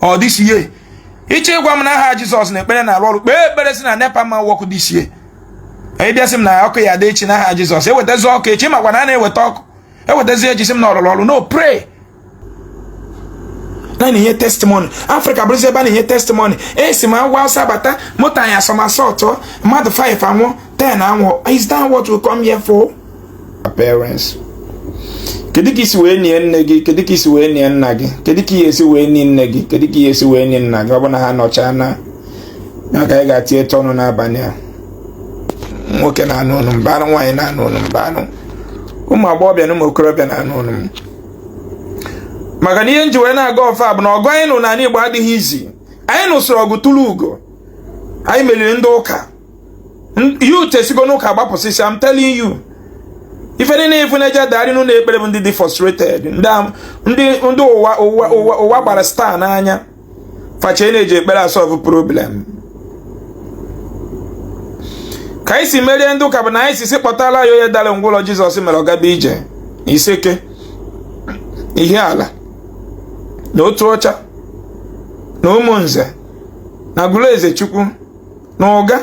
ọ dịchie ị chọ ịgwa m na aha jizọs na ekpere na-arụ ọrụ kpee ekpere sị na nepa ma wọkụ dịchie ị bịa sị m na ọkụ ya-adị echi n'aha jizọs ewetazi ọkụ echi makwa na a na-eweta ọkụ ewetazi e je sị m na ọ lụlụ ọrụ no pray na na-enye testimony afrịka bụrụzi ebe a na-enye testimony esi m ugwu awụsa bata moto anyị asomersault mmadụ 5 anwụ 10 anwụ is that what we come here for? parents kedu ka i si wee nie nne gị kedu ka i si wee nie nna gị kedu ka e si wee nie nne gị kedu ka e si wee nie nna gị ọ bụ na ha nọchaa na ya ka anyị ga-etinyecha ọnụ n'abalị a nwoke na-anụ onu m bịanụ nwaanyị na-anụ onu m bịanụ ụmụ agbọghọbịa na ụmụ okorobịa na-anụ onu m maka na ihe nji wee na-aga ọfa bụ na ọgụ anyị nụ n'ala Igbo adịghị easy anyị nụsịrị ọgụ tụrụ ugo anyị meriri ndị ụka youth esigo n'ụka gbapụsịsịa am telling you ife niile ị fụ na-eje adagharị n'ụlọ ekpere bụ ndị dị frustrated ndị ụwa gbara star n'anya fa che na e ji ekpere asolve problem ka anyị si merie ndị ụka bụ na anyị sị sị kpọtara anyị onye dara ngwụlọ jizọs mere ọ gaba ije iseke ihiala na otuọcha na ụmụnze na agụlụezechukwu na uga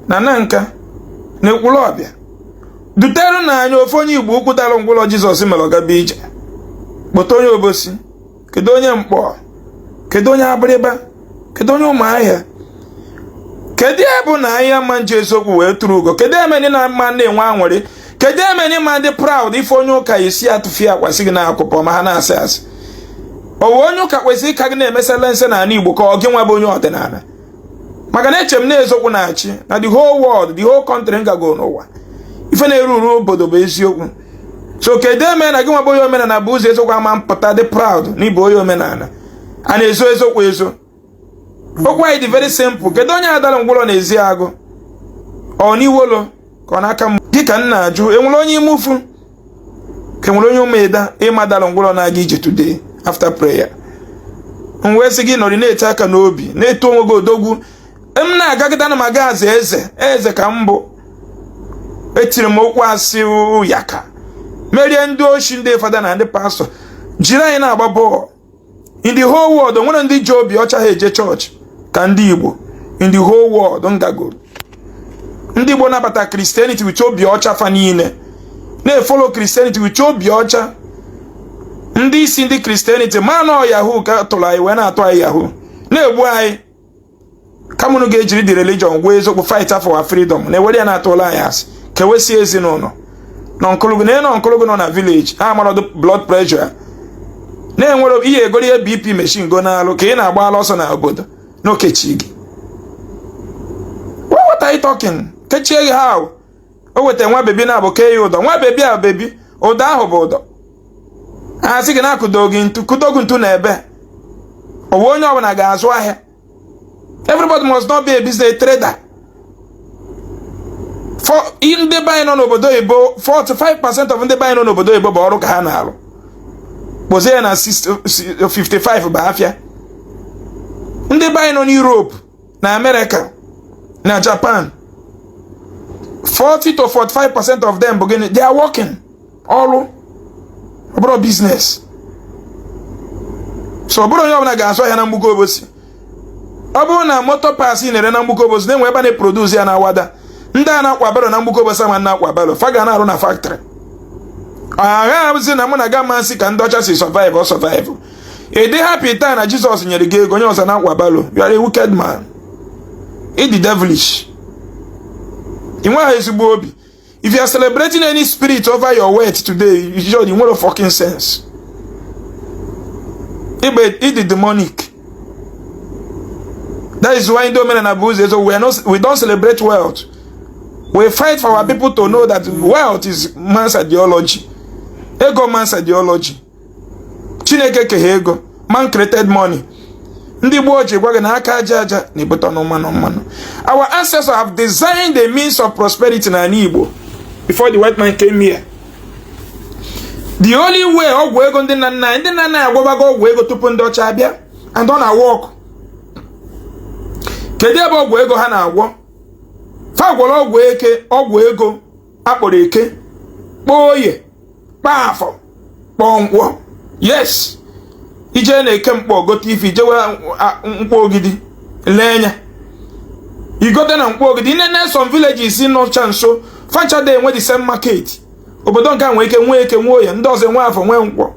na nanka na ekwulọbịa dutere nụ anyị ofu onye igboukwu dara ngwụlọ jizọs mere ọ gaba ije kpọta onye obosi kedu onye mkpọ kedu onye abịrịba kedu onye ụmụahịa kedu ya bụ na anyị nwa ji eziokwu wee tụrụ ugo kedu ihe me anyị na-ama na-enwe aṅụrị kedu ihe me anyị ama dị proud ife onye ụka isi atụfi akwasị gị na akụpọ ma ha na-asị asị o nwe onye ụka kwesịrị ịka gị na-emesala nse n'ala Igbo karịa gị nwa bụ onye ọdịnala maka na eche m na ezokwu na-achị na the whole world the whole country ngago n'ụwa ife na-erule obodo bụ eziokwu so kedu ihe me na gị nwa bụ onye omenala bụ ụzọ eziokwu ama apụta dị proud na ị bụ onye omenala a na-ezo ezokwu ezo okwu anyị dị very simple kedu onye dara ngwụlọ n'ezeagụ ọ n'iwolo ka ọ n'akama gị ka m na-ajụ e nwere onye imufu ka e nwere onye ụmụida ị ma dara ngwụrọ na-aga ije today after prayer m wee sị gị nọrị na-eti aka n'obi na-eto onwe gị odogwu m na-agagide ana m aga aza eze eze ka m bụ etiri m okpu asị ya ka merie ndị oshi ndị fada na ndị pastọ jiri anyị na-agba bọọlụ in the whole world o nwere ndị ji obi ọcha eje chọọchị ka ndị Igbo in the whole world ngago ndị Igbo nabata Christianity with obi ọcha fa niile na-efollow Christianity with obi ọcha ndị isi ndị Christianity ma na ọ yahoo ka a tụrụ anyị wee na-atụ anyị yahoo na-egbu anyị kama unu ga-ejiri the religion gwee eziokwu fight for our freedom na ewere ya na-atụlụ anyị asị kewesie ezinụlọ na uncle gị na ị na uncle gị nọ na village amarọdụ blood pressure na-enwere ihe egoro ya bp machine go n'alụ ka ị na-agbala ọsọ na obodo n'okechi gị what are you talking kechie gị ha o weta nwa bebi na abụ kee ya ụdọ nwa bebi a bebi ụdọ ahụ bụ ụdọ a sị gị na akụdo gị ntu kụdo gị ntu na ebe owe onye ọbụla ga-azụ ahịa everybody must not be a business trader for ndị be anyị nọ n'obodo oyibo 45% of ndị be anyị nọ n'obodo oyibo bụ ọrụ ka ha na-arụ kpọzie ya na 55 bụ afịa ndị be anyị nọ n'Europe na America na Japan 40 to 45 percent of them bụ gịnị they are working ọrụ ọ bụrọ business so ọ bụrọ onye ọbụla ga-azụ ahịa na mgbuka obosi ọ bụrụ na motor parts ị na-ere na mgbuka obosi na e nwee ebe a na-eproduce ya na awada ndị a na-akwa barrow na mgbuka obosi ama na-akwa barrow fa ga na-arụ na factory ọ ga-abụzi na mụ na gị amasị ka ndị ọcha si survive ọ survive ị dị happy taa na jizọs nyere gị ego onye ọzọ na-akwa barrow you are a wicked man ị dị devilish ị nweghị ezigbo obi if you are celebrating any spirit over your wealth today ị nwerọ fucking sense ị dị demonic that is why ndị omenala bu ụzọ we don't celebrate wealth we fight for our people to know that wealth is man's ideology ego man's ideology chineke keghe ego man created money ndị gboo ji gwa gị na aka aja aja na-ebute ọnụ mmanụ mmanụ our ancestors have designed the means of prosperity n'ala igbo before the white man came here the only way ọgwụ ego ndị nna nna anyị ndị nna nna anyị agwọbago ọgwụ ego tupu ndị ọcha abịa and ọ na-awork kedu ebe ọgwụ ego ha na-agwọ fa gwọrọ ọgwụ eke ọgwụ ego a kpọrọ eke kpọọ oye kpọọ afọ kpọọ nkwọ yes i jee na eke nkpor gote ife i jewe nkwọ ogidi lee nya i gote na nkwọ ogidi nene some villages nọcha nso fa ncha adị enwe the same market obodo nke a nwee ike nwee eke nwee oye ndị ọzọ nwee afọ nwee nkwọ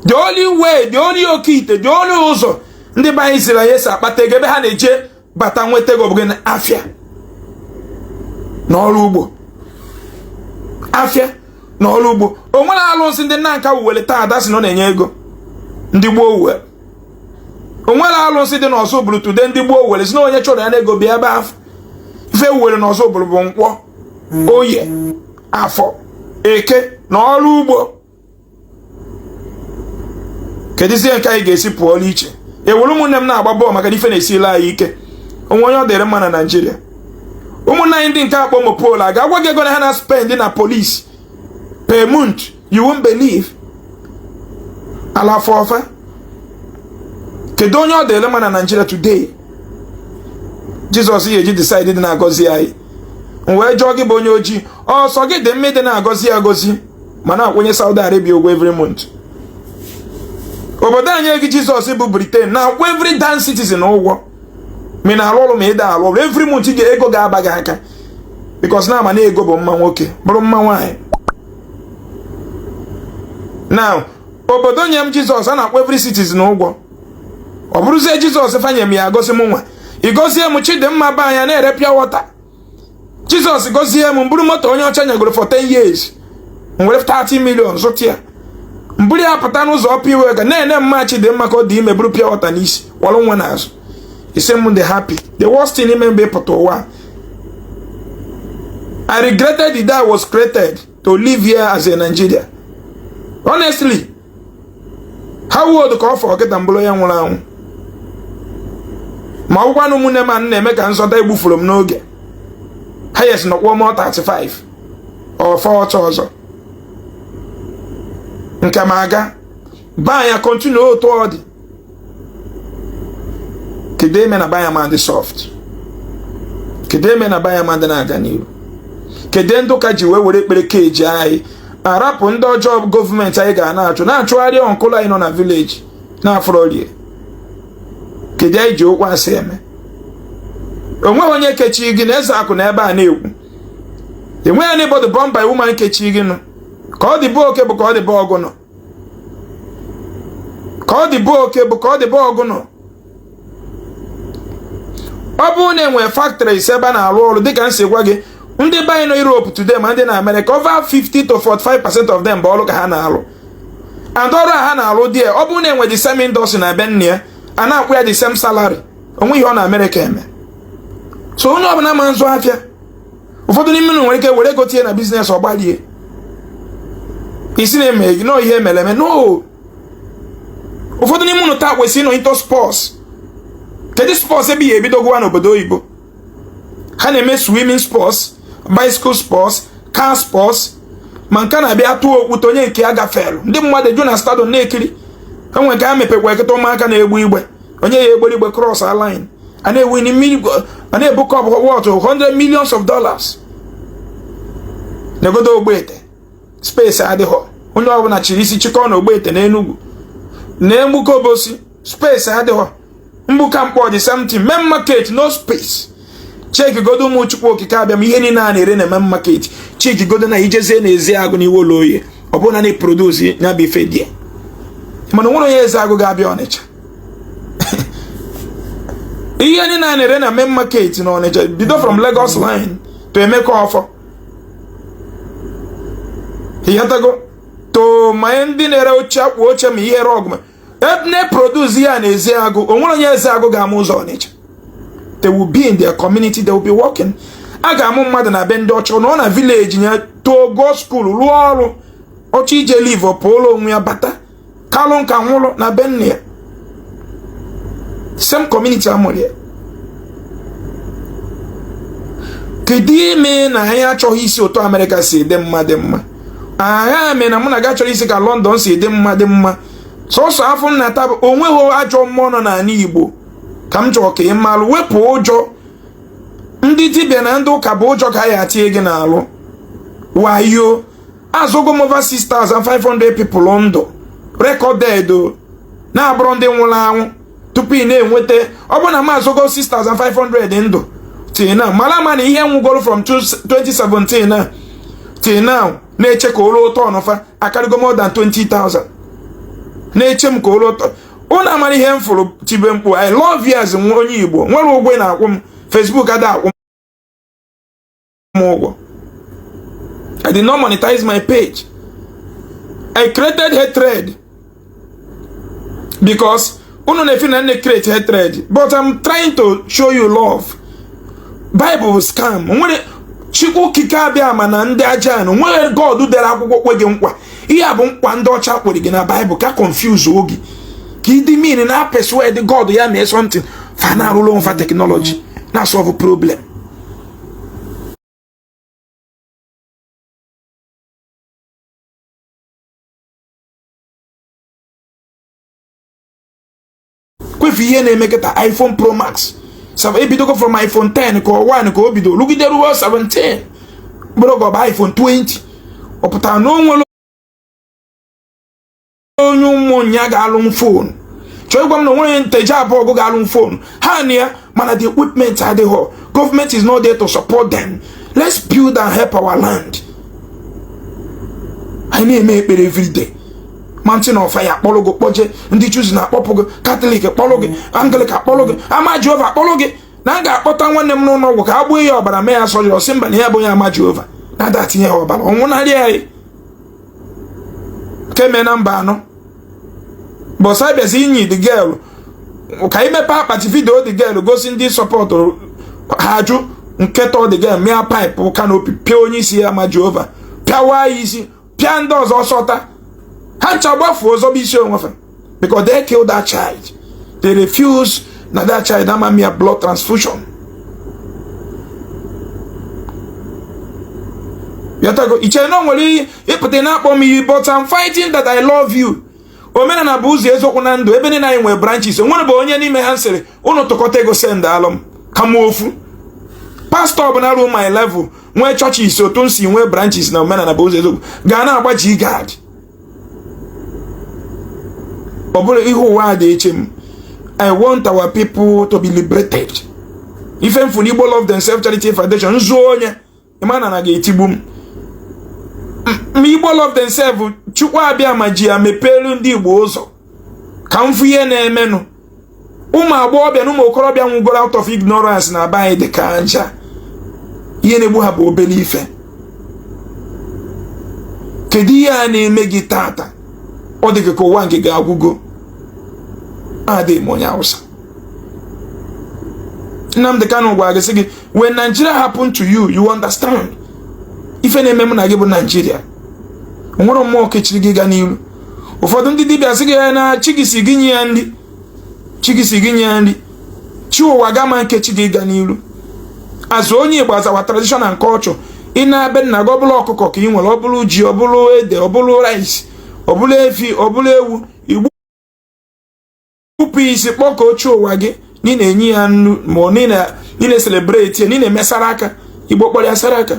the only way the only okite the only ụzọ ndị be anyị ziri anyị e si akpata ego ebe ha na-eje bata nweta ego ọ bụ na afịa na ọrụ ugbo afịa na ọrụ ugbo o nwere alụsị ndị nanka wuwere taa ada si na ọ na-enye ego ndị gboo wuwe o nwere alụsị dị n'ozubulu today ndị gboo wuwere si na onye chọrọ ya na ego bịa ebe afụ ife e wuwere n'ozubulu bụ nkwọ oye afọ eke na ọrụ ugbo keduzi nke anyị ga-esi pụọ n'iche ewere ụmụnne m na-agba bọọlụ maka na ife na-esila anyị ike o nwe onye ọ dịrị mma na naijiria ụmụnne anyị ndị nke akpọ mopol a ga-agwa gị ego na ha na spend na polisi per month you won't believe ala afọ ọfa kedu onye ọ dịrị mma na naijiria today jizọs ya eji decide dị na-agọzi anyị m wee jụọ gị bụ onye ojii ọ sọ gị dị mma ị dị na-agọzi agọzi ma na-akwụ onye Saudi Arabia ụgwọ every month obodo nye gị Jizọs bụ Britain na-akwụ every damn citizen ụgwọ ma ị na-arụ ọrụ ma ị da arụ ọrụ every month ga ego ga-aba gị aka because na a ma na ego bụ mma nwoke bụrụ mma nwaanyị now obodo nye m Jizọs a na-akwụ every citizen ụgwọ ọ bụrụzie Jizọs fa nye m ya gọzie m nwa ị gọzie m Chidimma be anya na-ere pure water jizọs gọzie m m buru moto onye ọcha nyagoro for 10 years m were 30 million zụta ya m buru ya pụta n'ụzọ ọpụ iwe ga na-ene mma Chidimma ka ọ dị ime buru pure water n'isi kwọrọ nwa n'azụ ị sị m dị happy the worst thing ime m bụ ịpụta ụwa I regretted the day I was created to live here as a Nigerian honestly how old ka ọ fọrọ kịta m bụrụ ya nwụrụ anwụ ma ọ bụkwanụ ụmụnne m anụ na-eme ka nzọta egbufurọ m n'oge highest nọkwuo m 35 or 40 ọzọ nke m agabaa ya continue otu ọ dị kedu ihe me na be anyị ma dị soft kedu ihe me na be anyị ma dị na-aga n'iru kedu ndị ụka ji wee were ekpere keji anyị arapụ ndị ọjọọ gọọmenti anyị ga na-achụ na-achụgharị uncle anyị nọ na village na-afọrọ rie kedu anyị ji okwu asị eme o nweghị onye kechiri gị na eziokwu na ebe a na-ekwu enweghị anybody born by woman kechiri gị nụ ka ọ dị be oke bụ ka ọ dị be ọgụnụ ka ọ dị be oke bụ ka ọ dị be ọgụnụ ọ bụrụ na enwere factory ise ebe a na-arụ ọrụ dịka m si gwa gị ndị be anyị nọ Europe today ma ndị na Amerịka over 50 to 45 percent of them bụ ọrụ ka ha na-arụ and ọrụ a ha na-arụ there ọ bụrụ na e nwe the same industry na be nne ya a na-akwụ ya the same salary o nwe ihe ọ na Amerịka eme so onye ọbụla ma nzụ afịa ụfọdụ n'ime unu nwere ike were ego tinye na biznes ọ gbarie ị sị na-eme gị na ọ ihe emere eme no ụfọdụ n'ime unu taa kwesịrị ịnọ into sports kedu sports ebe ya ebidogowa n'obodo oyibo ha na-eme swimming sports bicycle sports car sports ma nke na-abịa tụọ okwute onye nke ya gafelu ndị mmadụ eju na stadium na-ekiri e nwe nke ha mepekwa ekete ụmụaka na-egbu igbe onye ya egberi igwe cross line a na-ewini mmiri a na-ebu cup worth 100 millions of dollars negodo ogbete space adịghọ onye ọbụla chiri isi chịkọọ na ogbete n'enugwu na mgbuka obosi space adịghọ mgbuka nkpọ the same thing main market no space chekigodo ụmụ chukwu okike abịama ihe niile a na-ere na main market chekigodo na ijezie na Ezeagụ n'Iwollo Oghe ọ bụrụ na na eprodusi ya bụ ife dị mana nwere onye Ezeagụ ga-abịa ọnịcha ihe niile a na-ere na main market na ọnịcha bido from Lagos line to Emeka ọfọ ịghọtago to ma ndị na-ere oche akpụ oche ma ihe rọgụ ọ bụ na e produce ya na Ezeagụ onwere onye Ezeagụ ga-ama ụzọ ọnịcha they will be in their community they will be working a ga-amụ mmadụ na be ndị ọcha nọọ na village ya too go school rụọ ọrụ ọ chọọ ije leave pụọla onwe ya bata kalụ nka nwụrụ na be nne ya same community amụrụ ya kedu ihe me na anyị achọghị isi otu amerịka si dị mma dị mma aghaa mere na mụ na gị achọrọ isi ka London si dị mma dị mma sọsọ afọ m na-ata bụ onweghị ajọ mmụọ nọ n'ala Igbo ka m chọrọ ka ị malụ wepụ ụjọ ndị dibịa na ndị ụka bụ ụjọ ka ya atinye gị n'alụ wayo azọgo m over 6500 people ndụ recorded na-abụrọ ndị nwụrụ anwụ tupu ị na-enweta ọ bụrụ na m azọgo 6500 ndụ till now mara ma na ihe nwụgoro from 2017 na till now na-eche ka o luo turn fa akarịgo more than 20,000 na-eche m ka o luo turn ụnụ amara ihe m fụrụ tibe mkpu i love you as nwa onye igbo nwere ụgwọ a na-akwụ m Facebook ada akwụ m ụgwọ I did not monetize my page I created hatred because unu na-efeel na m na-ecreate hatred but I'm trying to show you love Bible is scam nwere chukwu okike abịama na ndị aja ana nwere God dere akwụkwọ kwe gị nkwa ihe a bụ nkwa ndị ọcha kwere gị na Bible ka confuseo gị ka ịdị mmiri na-epersuade God ya mee something fa na-arụrụ onwe fa technology na-asọvụ problem kwefu ihe na-eme kịta iPhone Pro Max ebidogo from iPhone 10 ka ọ 1 ka o bido rugide ruo 17 bụrụ ka ọ bụ iPhone 20 ọ pụtara na o nwere onye Umunya ga-alụ m fon chọọ ịgwa m na onwere Nteje Abọgụ ga-alụ m fon ha nọ ya mana the equipment adịghọ gọọmenti is not there to support them let's build and help our land anyị na-eme ekpere everyday mountain of fire akpọrọ gị kpọje ndị Chosen akpọpụ gị katọlik akpọrọ gị anglịkan akpọrọ gị ama jehova akpọrọ gị na a ga-akpọta nwanne m n'ụlọ ọgwụ ka a gbuo ya ọbara mee ya surgery ọ sị mba na ya bụ onye ama jehova na ada etinye ya ọbara ọ nwụnarị anyị keme na mba anọ bọsa bịazi inyi the girl ka anyị mepee akpati vidio the girl gosi ndị sọpọtụrụ ha ajụ nke tọ the girl mịa paịpụ kanopi pịa onye isi ama jehova pịawa ya isi pịa ndị ọzọ sota ha ncha gbafuo zọba isi onwe fa because they killed that child they refuse na that child ama mịa blood transfusion yatago iche na nwere ịpụta na-akpọ m iyi but I'm fighting that I love you omenala bụ ụzọ eziokwu na ndụ ebe niile anyị nwere branches o nwerọ bụ onye n'ime ha sịrị ụnụ tụkọta ego sendalụ m kama ofu pastọ ọbụla ruo my level nwee chọchis otu m si nwee branches na omenala bụ ụzọ eziokwu ga na-agba G-guard ọ bụrụ ihe ụwa ada eche m i want our people to be liberated ife m fụ n'igbo love themselves charity foundation nzuo onye ịma na na ga-etigbu m ma igbo love themselves chukwu abịama ji ya mepeelu ndị igbo ụzọ ka m fụ ihe na-emenụ ụmụ agbọghọbịa na ụmụ okorobịa nwụgoro out of ignorance na be anyị dị ka aja ihe na-egbu ha bụ obere ife kedu ihe a na-eme gị taata ọ dị gị ka ụwa nke gị agwụgo ada eme onye Hausa Nnamdi Kanu gwara gị sị gị when Nigeria happen to you you understand ife na-eme mụ na gị bụ Nigeria o nwerọ mmụọ kechiri gị ọganiru ụfọdụ ndị dibịa sị gị na chi gị sị gị nye ya nri chi gị sị gị nye ya nri chi ụwa gị aman kechi gị ọganiru azụ onye igbo azawa traditional nke ọchọ ị naa be nna gị ọ bụrụ ọkụkọ ka ị nwere ọ bụrụ ji ọ bụrụ ede ọ bụrụ rice ọ bụrụ efi ọ bụrụ ewu tupu i sie kpọkuo chi ụwa gị na ị na-enye ya nni na ị na-eselebreti ya na ị na-eme saraka igbo kpọrọ ya saraka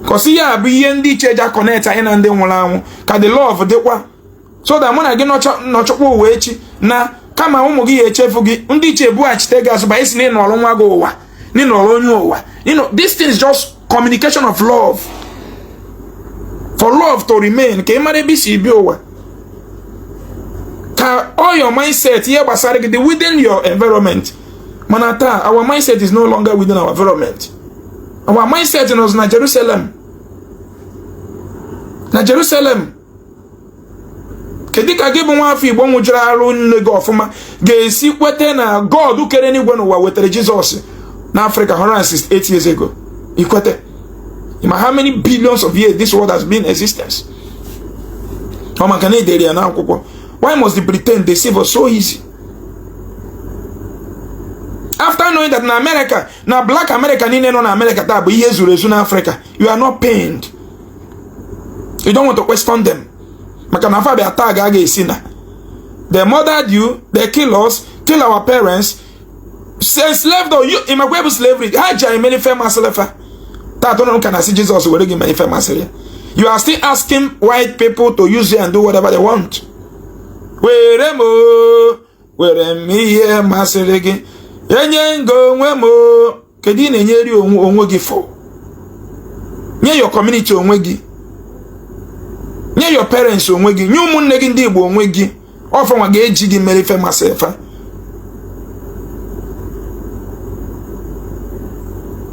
cos ya bụ ihe ndị ichie ji connect anyị na ndị nwụrụ anwụ ka the love dịkwa so that mụ na gị nọchọkwa ụwa echi na kama ụmụ gị ya-echefu gị ndị ichie bughachite gị azụ bịa sị na ị nọrọ nwa gị ụwa na ị nọrọ onye ụwa you know this thing is just communication of love for love to remain ka ị mara ebe i si bịa ụwa ka all your mindset ihe gbasara gị dị within your environment mana taa our mindset is no longer within our environment our mindset nọzi na Jerusalem na Jerusalem kedu ka gị bụ nwa afọ igbo ṅụjuru ara nne gị ọfụma ga-esi kweta na god kere enigwe na ụwa wetara jizọs na afrịka 168 years ago i kwete ma how many billions of years this world has been existence ọ maka na e dere ya n'akwụkwọ why must the britain deceive us so easy after knowing that na america na black america niile nọ na america taa bụ ihe e zuru ezu na africa you are not pained you don't want to question them maka na fa bịa taa ga aga esi na they murdered you they kill us kill our parents enslaved us you ị makwa ife bụ slavery ha ji anyị mere ife masịrị fa taa tụrụ ka na-asị Jizọs were gị mere ife masịrị ya you are still asking white people to use you and do whatever they want were m mere ihe masịrị gị enye m gị onwe m kedu ị na-enyeri onwe gị fa nye your community onwe gị nye your parents onwe gị nye ụmụnne gị ndị Igbo onwe gị ọ fanwa ga-eji gị mere ife masị fa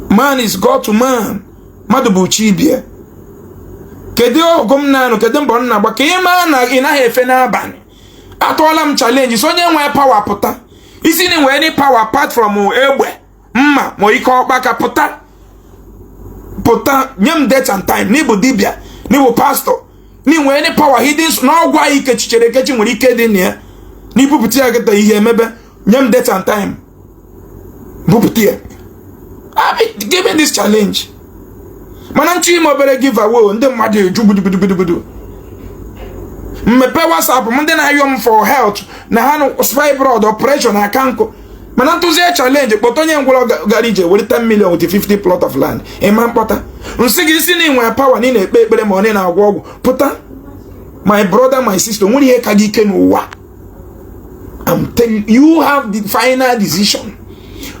man is God to man mmadụ bụ chi ibe ya kedu ọgụ m na-anụ kedu mbọ m na-agba ka ị maa na ị naghị efe n'abalị atụọla m chalenji so onye nwee pawa pụta ị sị na i nwee any pawa apart from egbe mma ma ike ọkpaka pụta pụta nye m date and time na ị bụ dibịa na ị bụ pastọ na i nwe any power hidden na ọgwụ anyị i kechichara ekechi nwere ike dị na ya na i bupụta ya kịta ihe emebe nye m date and time bupụta ya give me this challenge mana m chọọ ime obere giveaway ndị mmadụ eju gbudugbudugbudu m mepe WhatsApp m ndị na-ayọ m for health na ha fibroid operation aka nkụ mana m tụzie chalenji kpọta onye ngwọrọ gara ije were 10 million with 50 plot of land ị ma-akpọta m sị gị ị sị na i nwe pawa na ị na-ekpe ekpere ma ọ na-agwọ ọgwụ pụta my brother my sister o nwerọ ihe ka gị ike n'ụwa I'm telling you have the final decision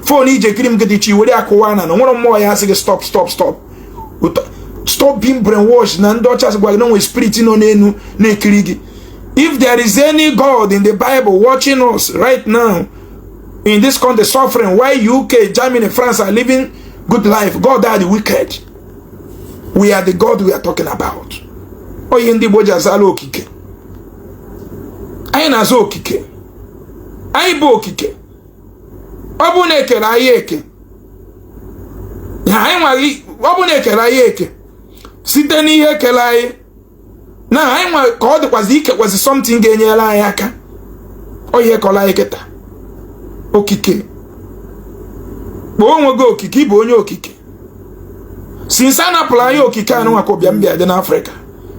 fon i ji ekiri m gị dị chi were ya kụwaa na o nwerọ mmụọ ya-asị gị stop stop stop stop being brainwashed na ndị ọcha sị gwa gị na e nwere spirit nọ n'elu na-ekiri gị If there is any God in the Bible watching us right now, in this country suffering, why UK, Germany, France are living good life, God are the wicked. We are the God we are talking about. Ọ ya ndị Igbo ji azala okike. Anyị na-aza okike. Anyị bụ okike. Ọ bụ na e kere anyị eke. Anyị nwaghị ọ bụ na e kere anyị eke site n'ihe e kere anyị na anyị nwa ka ọ dịkwazi ikekwazi something ga-enyere anyị aka ọ ihe kọrọ anyị kịta okike kpọọ onwe gị okike ị bụ onye okike since a napụrụ anyị okike anyị nwa ka ụbịa mbịa dị n'afrịka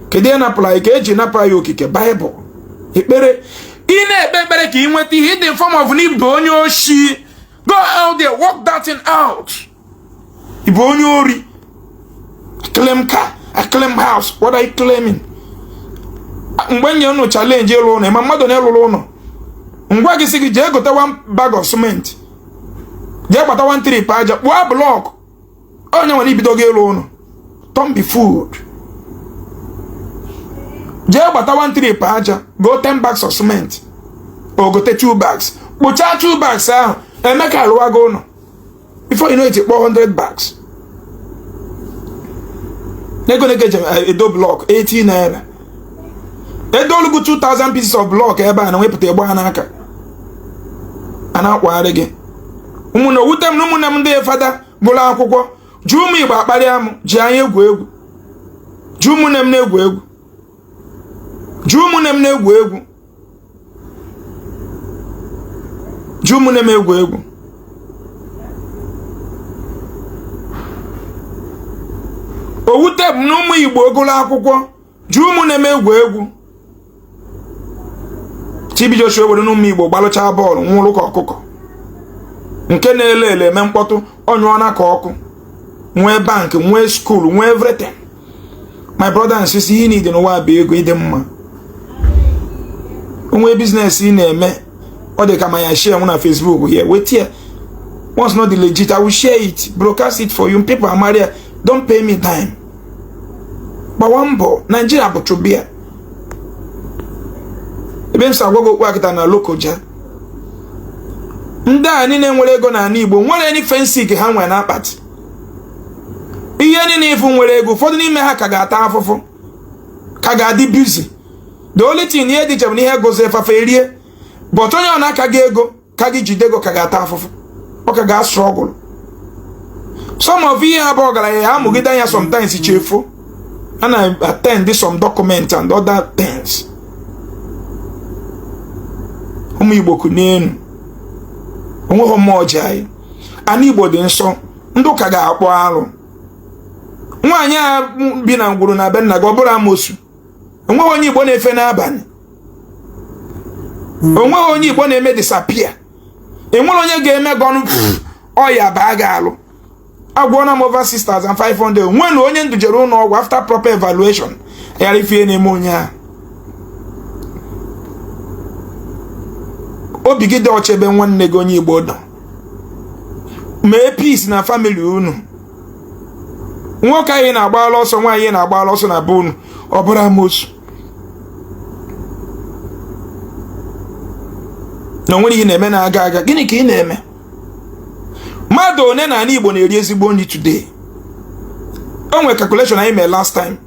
kedu ihe napụrụ anyị ka eji napụ anyị okike baịbụl ekpere ị na-ekpe ekpere ka ị nweta ihe in the form of n'ịbụ onye oshi go out there work that thing out ị bụ onye ori claim car I claim house what are you claiming mgbe nye unu challenge ịlụ ụlọ ma mmadụ na-alụrụ ụlọ m gwa gị sị gị jee gote one bag of cement jee gbata one trip aja kpụọ blọk onye nwere ibido gị ịlụ ụlọ turn be food jee gbata one trip aja goo 10 bags of cement o gote two bags kpụchaa two bags ahụ eme ka alụwa gị ụlọ before you know it kpụọ 100 bags n'ego na-eke ejem eh, edo blọk 18 naira edo o lugo 2000 pieces of blọk ebe a na nwepụta egbe ha n'aka a na-akwagharị gị ụmụnne o wute m na ụmụnne m ndị fada gụrụ akwụkwọ ji ụmụ igbo akparị amụ ji anyị egwu egwu ji ụmụnne m na-egwu egwu ji ụmụnne m na-egwu egwu ji ụmụnne m egwu egwu o wute m na ụmụ igbo gụlụ akwụkwọ ji ụmụnne m egwu egwu TB Joshua were n'ụmụ igbo gbalụchaa bọọlụ nwụrụ ka ọkụkọ nke na Elele eme mkpọtụ ọ nyụọna ka ọkụ nwee bank nwee skuul nwee everything my brother and sister ihe niile n'ụwa bụ ego ị dị mma o nwee biznes ị na-eme ọ dị ka ma ya share na Facebook ị weta ya once na ọ dị legit I will share it broadcast it for you people amara ya don't pay me time gbawa mbọ Nigeria bụ chụbịa ebe m si agwa gị okwu akịta na Lokoja ndị a niile nwere ego n'ala Igbo nwere any fensik ha nwere n'akpati ihe niile ị fụ nwere ego ụfọdụ n'ime ha ka ga-ata afụfụ ka ga-adị bizi the only thing ihe dị iche na ihe gụzie fa fa erie but onye ọ na-aka gị ego ka gị jide ego ka ga-ata afụfụ ọ ka ga-astruggle some of ihe ha bụ ọgaranya ha amụgide anya sometimes chi efo a na-attend some document and other things ụmụ Igbo kunienụ onweghị mma o ji anyị ana igbo dị nsọ ndị ụka ga-akpọ arụ nwaanyị a bi na ngwuru na be nna gị ọ bụrụ amosu onweghị onye igbo na-efe n'abani onweghị onye igbo na-eme disappear onwere onye ga-eme gị ọnụ ọya baa gị alụ agwọna m over 6500 nwenu onye m dujere ụnọ ọgwụ after proper evaluation ghara ịfụ ihe na-eme onye ahụ obi gị dị ọcha ebe nwanne gị onye Igbo nọ mee peace na family unu nwoke anyị na-agbala ọsọ nwaanyị na-agbala ọsọ na be unu ọ bụrụ amosu na onwere ihe na-eme na-aga aga gịnị ka ị na-eme mmadụ one na ana Igbo na-eri ezigbo nri today o nwere calculation anyị mee last time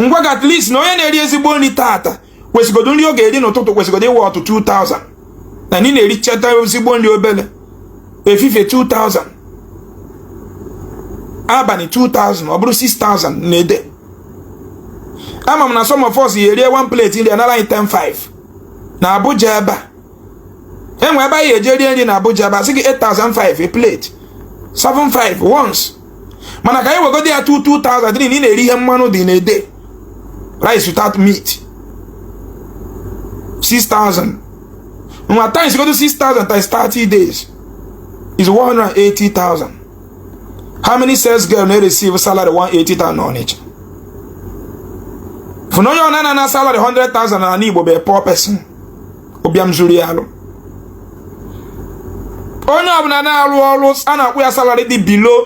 ngwa ga at least na onye na-eri ezigbo nri taata kwesịgodo nri ọ ga-eri n'ụtụtụ kwesịgodo ị worth 2000 na ndị na-erichata ezigbo nri obele efifie 2000 abani 2000 ọ bụrụ 6000 na day ama m na some of us ya erie one plate nri anara anyị 10 5 na Abuja ebe a enwe ebe anyị eje rie nri na Abuja ebe a sị gị 8500 a plate 75 once mana ka anyị wegodi ya 2000 na ị na-eri ihe mmanụ dị na-ede rice without meat 6000 nwa timesgodo 6000 times 30 days is 180000 how many sales girl na-receive salary 180000 n'Onitsha fụna onye ọbụna na-ana salary 100000 n'ana Igbo bụ a poor person ụbịam zuru ya alụ onye ọbụna na-arụ ọrụ a na-akwụ ya salary dị below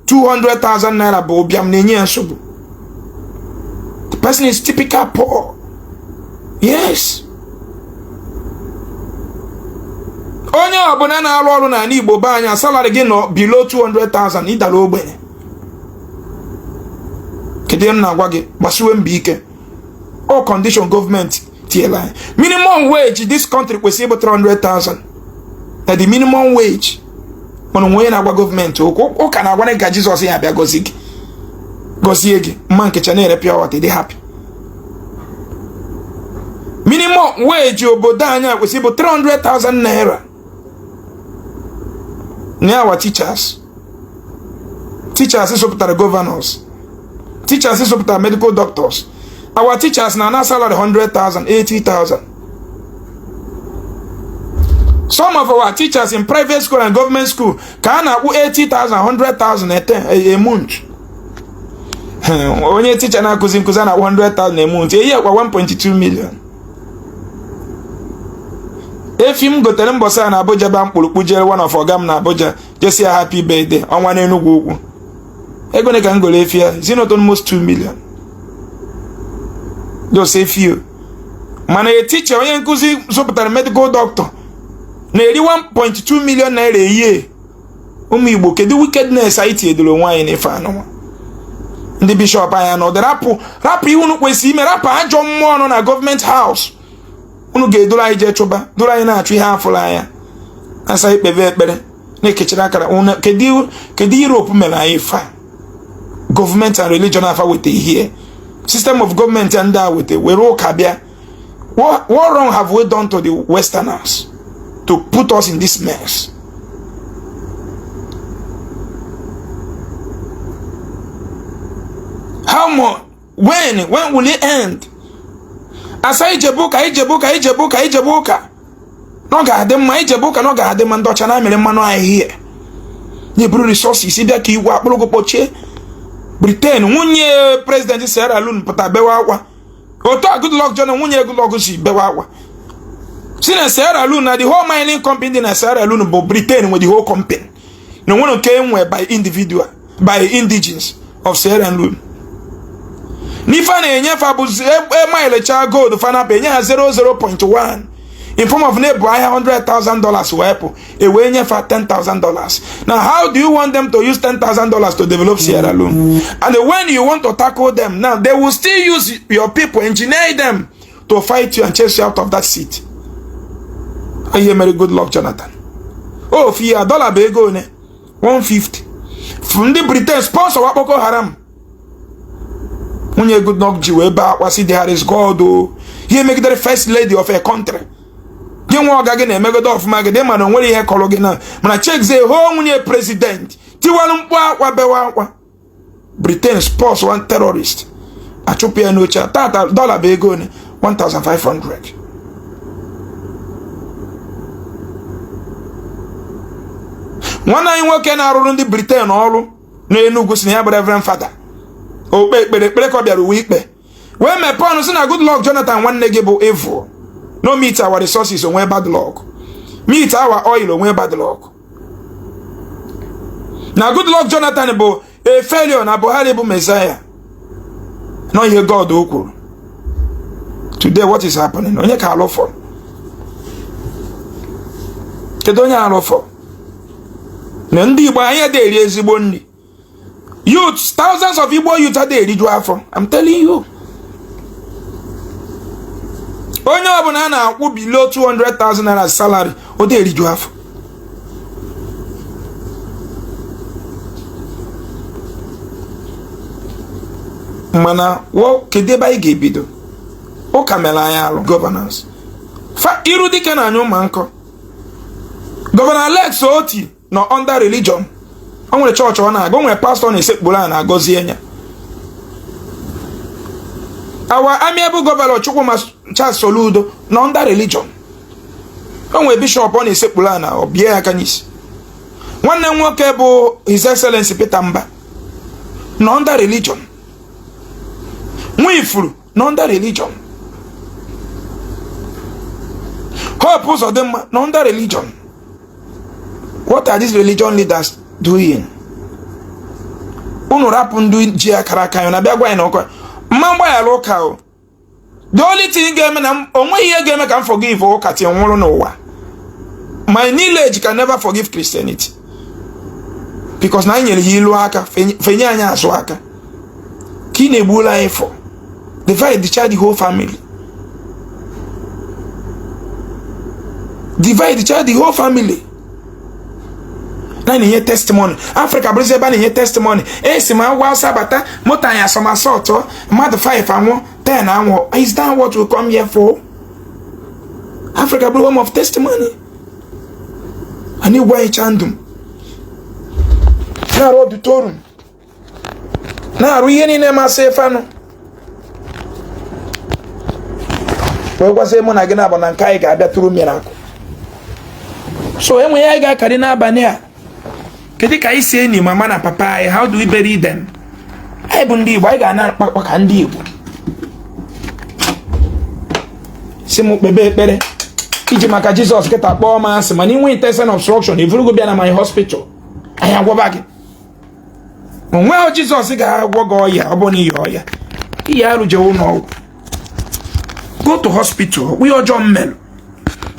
200,000 naira bụ ụbịam na-enye ya nsogbu the person is typical poor yes onye ọbụna na-arụ ọrụ n'ana Igbo be anyị a salary gị nọ below 200,000 ịdala ogbenye kedu ihe m na-agwa gị gbasiwe mbọ ike ọ condition government tiela anyị minimum wage this country kwesịrị ịbụ 300,000 na the minimum wage mana onwe onye na-agwa government okwu ụka na-agwa gị ka Jizọs ya abịa gọzie gị gọzie gị mama Nkechi na-ere pure water dị happy minimum wage obodo anyị kwesịrị bụ 300,000 naira na our teachers teachers zụpụtara governors teachers zụpụtara medical doctors our teachers na-ana salary 100,000 80,000 some of our teachers in private school and government school ka a na-akwụ 80,000 100,000 a month onye ticha na-akụzi nkụzi a na-akwụ 100,000 a month a year ọkwa 1.2 million efi m gotere mbọsị a na Abuja ba m kpụrụ kpụjere one of ọga m na Abuja je sị ya happy birthday ọnwa n'Enugwu Ukwu ego one ka m goro efi ya is not almost 2 million just efi mana a teacher onye nkụzi zụpụtara medical doctor na-eri 1.2 million naira a year ụmụ Igbo kedu wickedness anyị tinyedoro onwe anyị n'ife anụnwa ndị bishọp anyị nọ rapụ rapụ ihe unu kwesịrị ime rapụ ajọ mmụọ nọ na government house unu ga-eduru anyị jee chụba duru anyị na-achụ ihe a fụrọ anya a sị i kpebe ekpere na-ekechara akara kedu Europe mere anyị fa gọọmenti and religion a fa weta ihe system of gọọmenti a ndị a weta were ụka bịa what wrong have we done to the westerners to put us in this mess how much when when will it end asa ijebe ụka ijebe ụka ijebe ụka ijebe ụka na ọ ga-adị mma ijebe ụka na ọ ga-adị mma ndị ọcha na mere mmanụ ahịhịa na-eburu resources bịa ka iwu akpụrụgụ kpọchie briten nwunye prezidenti Sierra Leone pụta bewa akwa otu a Goodluck Jonathan nwunye Goodluck si bewa akwa si na Sierra Leone na the whole mining company dị na Sierra Leone bụ briten nwe the whole company na o nwerọ nke e nwe by individual by indigenes of Sierra Leone n'ife a na-enye fa bụzi ema e, e elecha gold fanapa enye ha 00.1 in form of na-ebu ahịa 100,000 dollars wee pụ e wee nye fa 10,000 dollars now how do you want them to use 10,000 dollars to develop Sierra Leone and when you want to tackle them now they will still use your people engineer them to fight you and chase you out of that seat ihe mere Goodluck Jonathan ofu ya dọla bụ ego one 150 ndị Britain sponsorwa Boko Haram nwunye Goodluck ji wee bee akwa sị there is God o ihe e megidere first lady of a country gị nwa ọga gị na-emegodo ọfụma gị dị mana o nwere ihe kọrọ gị na mana checkzie how nwunye president tiwara mkpu akwa bewa akwa Britain sponsorwa terrorist a chụpụ ya n'oche a tata dọla bụ ego one 1500 nwanne anyị nwoke na-arụrụ ndị Britain ọrụ n'Enugu sị na ya bụ Reverend Father okpe ekpere ekpere ka ọ bịara ụwa ikpe wee mepee ọnụ sị na Goodluck Jonathan nwanne gị bụ evil na o meet our resources o nwee bad luck meet our oil o nwee bad luck na Goodluck Jonathan bụ a failure na Buhari bụ Messiah na ọ ihe God o kwuru today what is happening onye ka alụ fọrọ kedu onye arụ fọrọ na ndị Igbo anyị adị eri ezigbo nri youths thousands of igbo youths adịghị eriju afọ i'm telling you onye ọbụla a na-akwụ below 200,000 naira salary ọ dị eriju afọ mana kedu ebe anyị ga-ebido ụka mere anyị alụ gọvanọs iru dike na anya ụmụ nkọ gọvanọ Alex Oti nọ under religion o nwere chọọchị ọ na-aga o nwere pastọ na-esekpuru ana a gọzie nya our amiable gọvanọ Chukwuma Charles Soludo nọ under religion o nwere bishọp ọ na-esekpuru ana o bie ya aka n'isi nwanne m nwoke bụ His Excellency Peter Mbah nọ under religion Nwifuru nọ under religion Hope Uzodinma nọ under religion what are these religion leaders doing unu rapụ ndị ji akara aka ya na bịa gwa anyị na ọ ka mma m gbaghara ụka o the only thing ga-eme na o nweghị ihe ga-eme ka m forgive ụka till m nwụrụ n'ụwa my knowledge can never forgive Christianity because na anyị nyere ya ilu aka fa enye anyị azụ aka ka ị na-egbula anyị fa dividechaa the whole family dividechaa the whole family na na-enye testimony afrịka bụrụzi ebe a na-enye testimony esi m ugwu Awụsa abata moto anyị a somersault mmadụ 5 anwụọ 10 anwụọ is that what we come here for africa bụrụ home of testimony anyị gwa anyị chandum na-arụ auditorium na-arụ ihe niile masị fanụ wee gwasị mụ na gị na-abụ na nke anyị ga-abịa through mirakụ so enwe ya anyị ga-akarị n'abalị a kedu ka anyị si eni mama na papa anyị how do we bury them anyị bụ ndị Igbo anyị ga-ana akpakpa ka ndị Igbo sị m kpebe ekpere iji maka Jizọs kịta kpọọ m asị mana i nwee intestinal obstruction e vuru gị bịa na my hospital anyị agwaba gị onweghị jizọs ga-agwọ gị ọya ọ bụ na ị ya ọya ị ya arụ jewe ṅụọ ọgwụ go to hospital kpụnye ọjọọ m melụ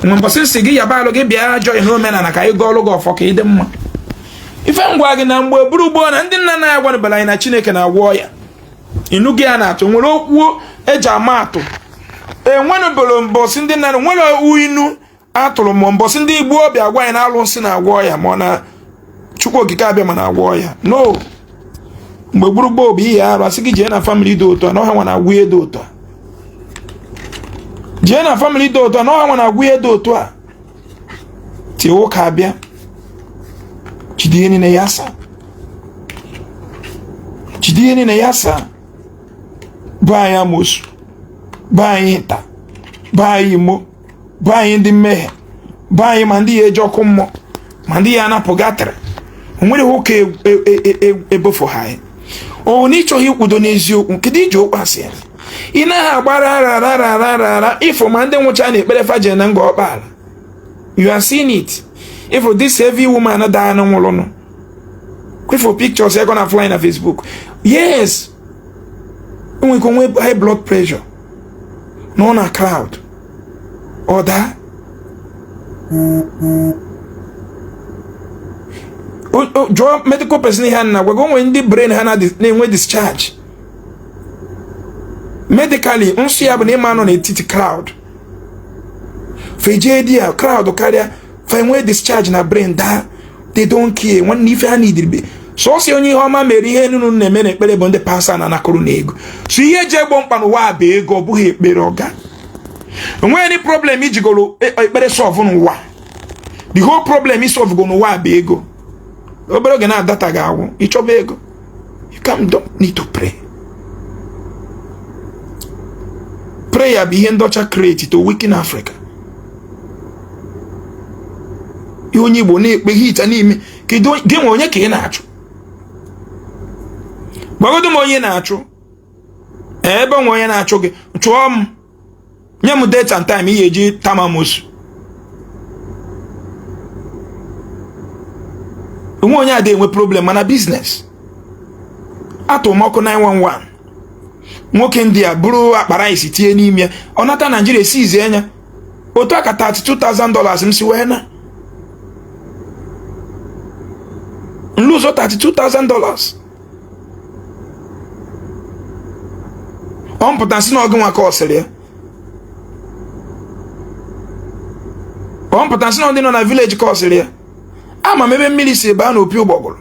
mgbe mbọsị m sị gị yaba arụ gị bịa ajọ ihe omenala ka anyị gọọlụ gị ọfọ ka ị dị mma ife m gwa gị na mgbe gboo gboo na ndị nna nna anyị agwanụbara anyị na chineke na-agwọ ọya inu gị a na-atụ nwere okwu eji ama atụ enwenụbụrụ mbọsị ndị nna nwere inu a tụrụ mbọsị ndị igbo bịa gwa ya na alụsị na-agwọ ọya ma ọ na chukwu okike abịama na-agwọ ọya no mgbe gboo gboo ị ya arụ a sị gị jee na famili dị otu a na ha nwa na-agwọ ihe dị otu a jee na famili dị otu a na ha nwa na-agwọ ihe dị otu a taa ụka abịa jide ihe niile ya saa jide ihe niile ya saa bo ya amosu bo ya ịta bo ya imo bo anyị ndị mmehie bo anyị ma ndị ya-eje ọkụ mmụọ ma ndị ya-ana purgatory onwere ihe ụka ebofu e, e, e, ha anyị ọ na ịchọghị ikwudo n'eziokwu kedu iji okwu asị ya ị naghị agbara ara ara ara ara ịfụ ma ndị nwụcha na ekpere fa je na Ngor Okpala you are seeing it ịfụ this heavy woman daa na nwụrụnụ kwefụ pictures ego na fly na Facebook yes onwere ike o nwee high blood pressure nọ na crowd ọ daa jụọ medical person ihe m na-agwa gị onwere ndị brain ha na-enwe discharge medically nsọ ya bụ na ị ma-anọ n'etiti crowd fejee di ya crowd karịa fa enwee discharge na brain daa they don't care nwanne ife ha nidiribe sọsọ onye ihe ọma mere ihe unu na-eme na ekpere bụ ndị pastor na-anakọrọ unu ego so ihe eji egbo mkpa n'ụwa bụ ego ọ bụghị ekpere oga enweghị any problem ijigoro e, ekpere solve n'ụwa the whole problem i solvego n'ụwa bụ ego obere oge na data ga-agwụ ị chọba ego You come don't need to pray. Prayer bụ ihe ndị ọcha create to weaken Africa. Ihe onye Igbo na-ekpe hicha n'ime kedu gị nwe onye ka ị na-achụ? Gwagodu m onye na-achụ ebe enwe onye na-achụ gị chụọ m nye m date and time ị ya-eji ta m amosu onweghị onye adịghị enwe problem mana biznes atụ m ọkụ 911 nwoke India buru akpa rice tinye n'ime ya ọ nata naijiria seize ya otu aka 32,000 dollars m si wee na m lose 32,000 dollars ọ mpụta si na ọgụ nwa ka ọ sịrị ya ọ mpụta si na ndị nọ na village ka ọ sịrị ya ama m ebe mmiri si baa n'opi ụgbọgụrụ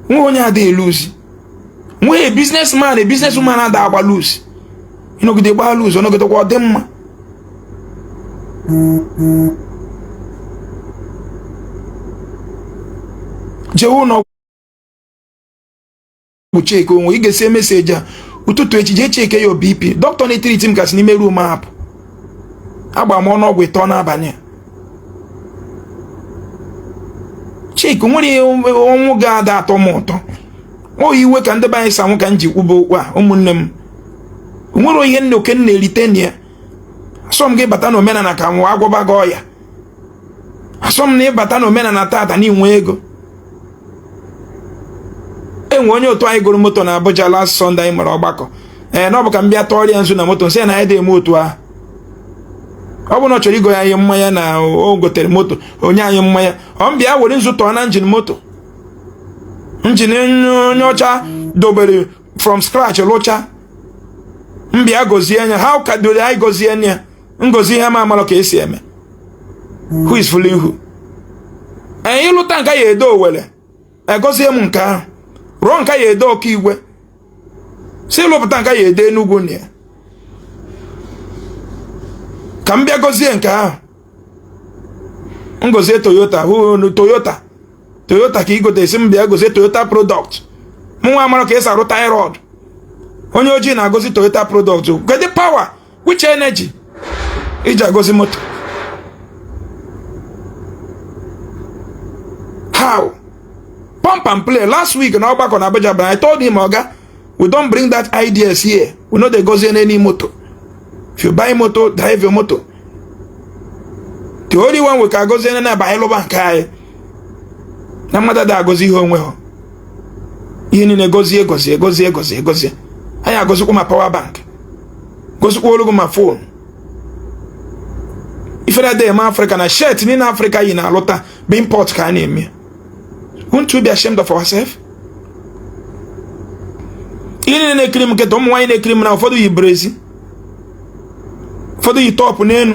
nwee onye ada eluzi nwee business man e business man ada agba loss ọ nọgide gbaa loss ọ nọgidekwa ọ dị mma jewe ụlọ bụ cheke onwe ị gesịa message a ụtụtụ echi jee cheke ya BP dọkịta na-etiriti m ka si n'ime room a apụ gbaa m ọnụ ọgwụ ịtọ n'abalị a chike nwere ọnwụ ga-ada atọ m ụtọ ọ iwe ka ndị be anyị si anwụ ka m ji kwuba okwu a ụmụnne m nwere ihe nna oke m na-erite na ya asọ m gị bata na omenala ka m agwọba gị ọya asọ m na ị bata na omenala tata na ị nwee ego e nwee onye otu anyị goro moto na Abuja last Sunday anyị mere ọgbakọ ee na ọ bụ ka m bịa tụọrọ ya nzu na moto m sị na anyị adị eme otu ahụ ọ bụ na ọ chọrọ igo ya anyị mmanya na o gotere moto o nye anyị mmanya ọ m bịa were nzu tụọ na engine moto engine onye ọcha dobere from scratch lụcha m bịa gozie ya ha ka doro anyị gozie anya m gozie ihe m amalụ ka esi eme who is fooling who anyị lụta nke ya edo Owerre egozie m nke ahụ rụọ nke ya edo Ọka Igwesi lụpụta nke ya edo Enugwu na ya ka m bịa gozie nke ahụ m gozie toyota hụ toyota toyota ka ị gote a sị m bịa gozie toyota product mụ nwa amara ka esi arụ tie rod onye ojii na-agọzi toyota product kedu power which energy i ji agọzi moto how pump and plain last week na ọgbakọ na Abuja but I told him oga we don't bring that ideas here we no dey gozi any moto if you buy moto drive your moto the only one we can gozi na na bụ anyị lụba nke anyị na mmadụ adịghị agọzi ihe o nwehọ ihe niile gozie gozie gozie gozie gozie anyị agozikwa ma power bank gozikwa o lugo ma phone ifere adịghị eme Afrịka na shirt niile Afrịka yi n'arụ ta bụ import ka a na-eme won't we be ashamed of ourselves ihe niile na-ekiri m kịta ụmụ nwaanyị na-ekiri m na ụfọdụ yi brezia ụfọdụ yi top n'elu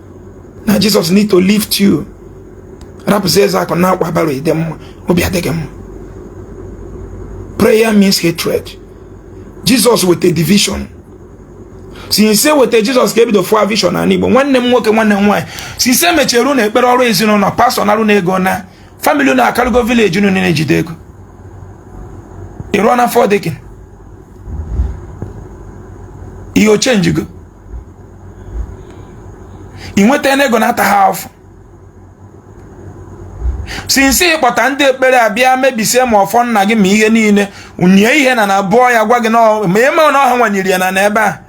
na jizọs need to leave rapụzi eze akụ na akwa bara ịdị mma obi adịghị mma prayer means hatred jizọs weta division since e weta jizọs ka ebido fụ division na igbo nwanne m nwoke nwanne m nwaanyị since e mechiri unu ekpere ọrụ ezinụlọ pastọ nara unu ego na famili unu akarịgo vileji unu niile jide ego ịrụọ na fọdịkin ihe ọ chenjigo ị nweta n'ego na-ata ha afọ since ị kpọta ndị ekpere a bịa mebisie ma ọfọ nna gị ma ihe niile nye ihe na na bụọ ya gwa gị ma eme na ọha nwanyere ya na n'ebe a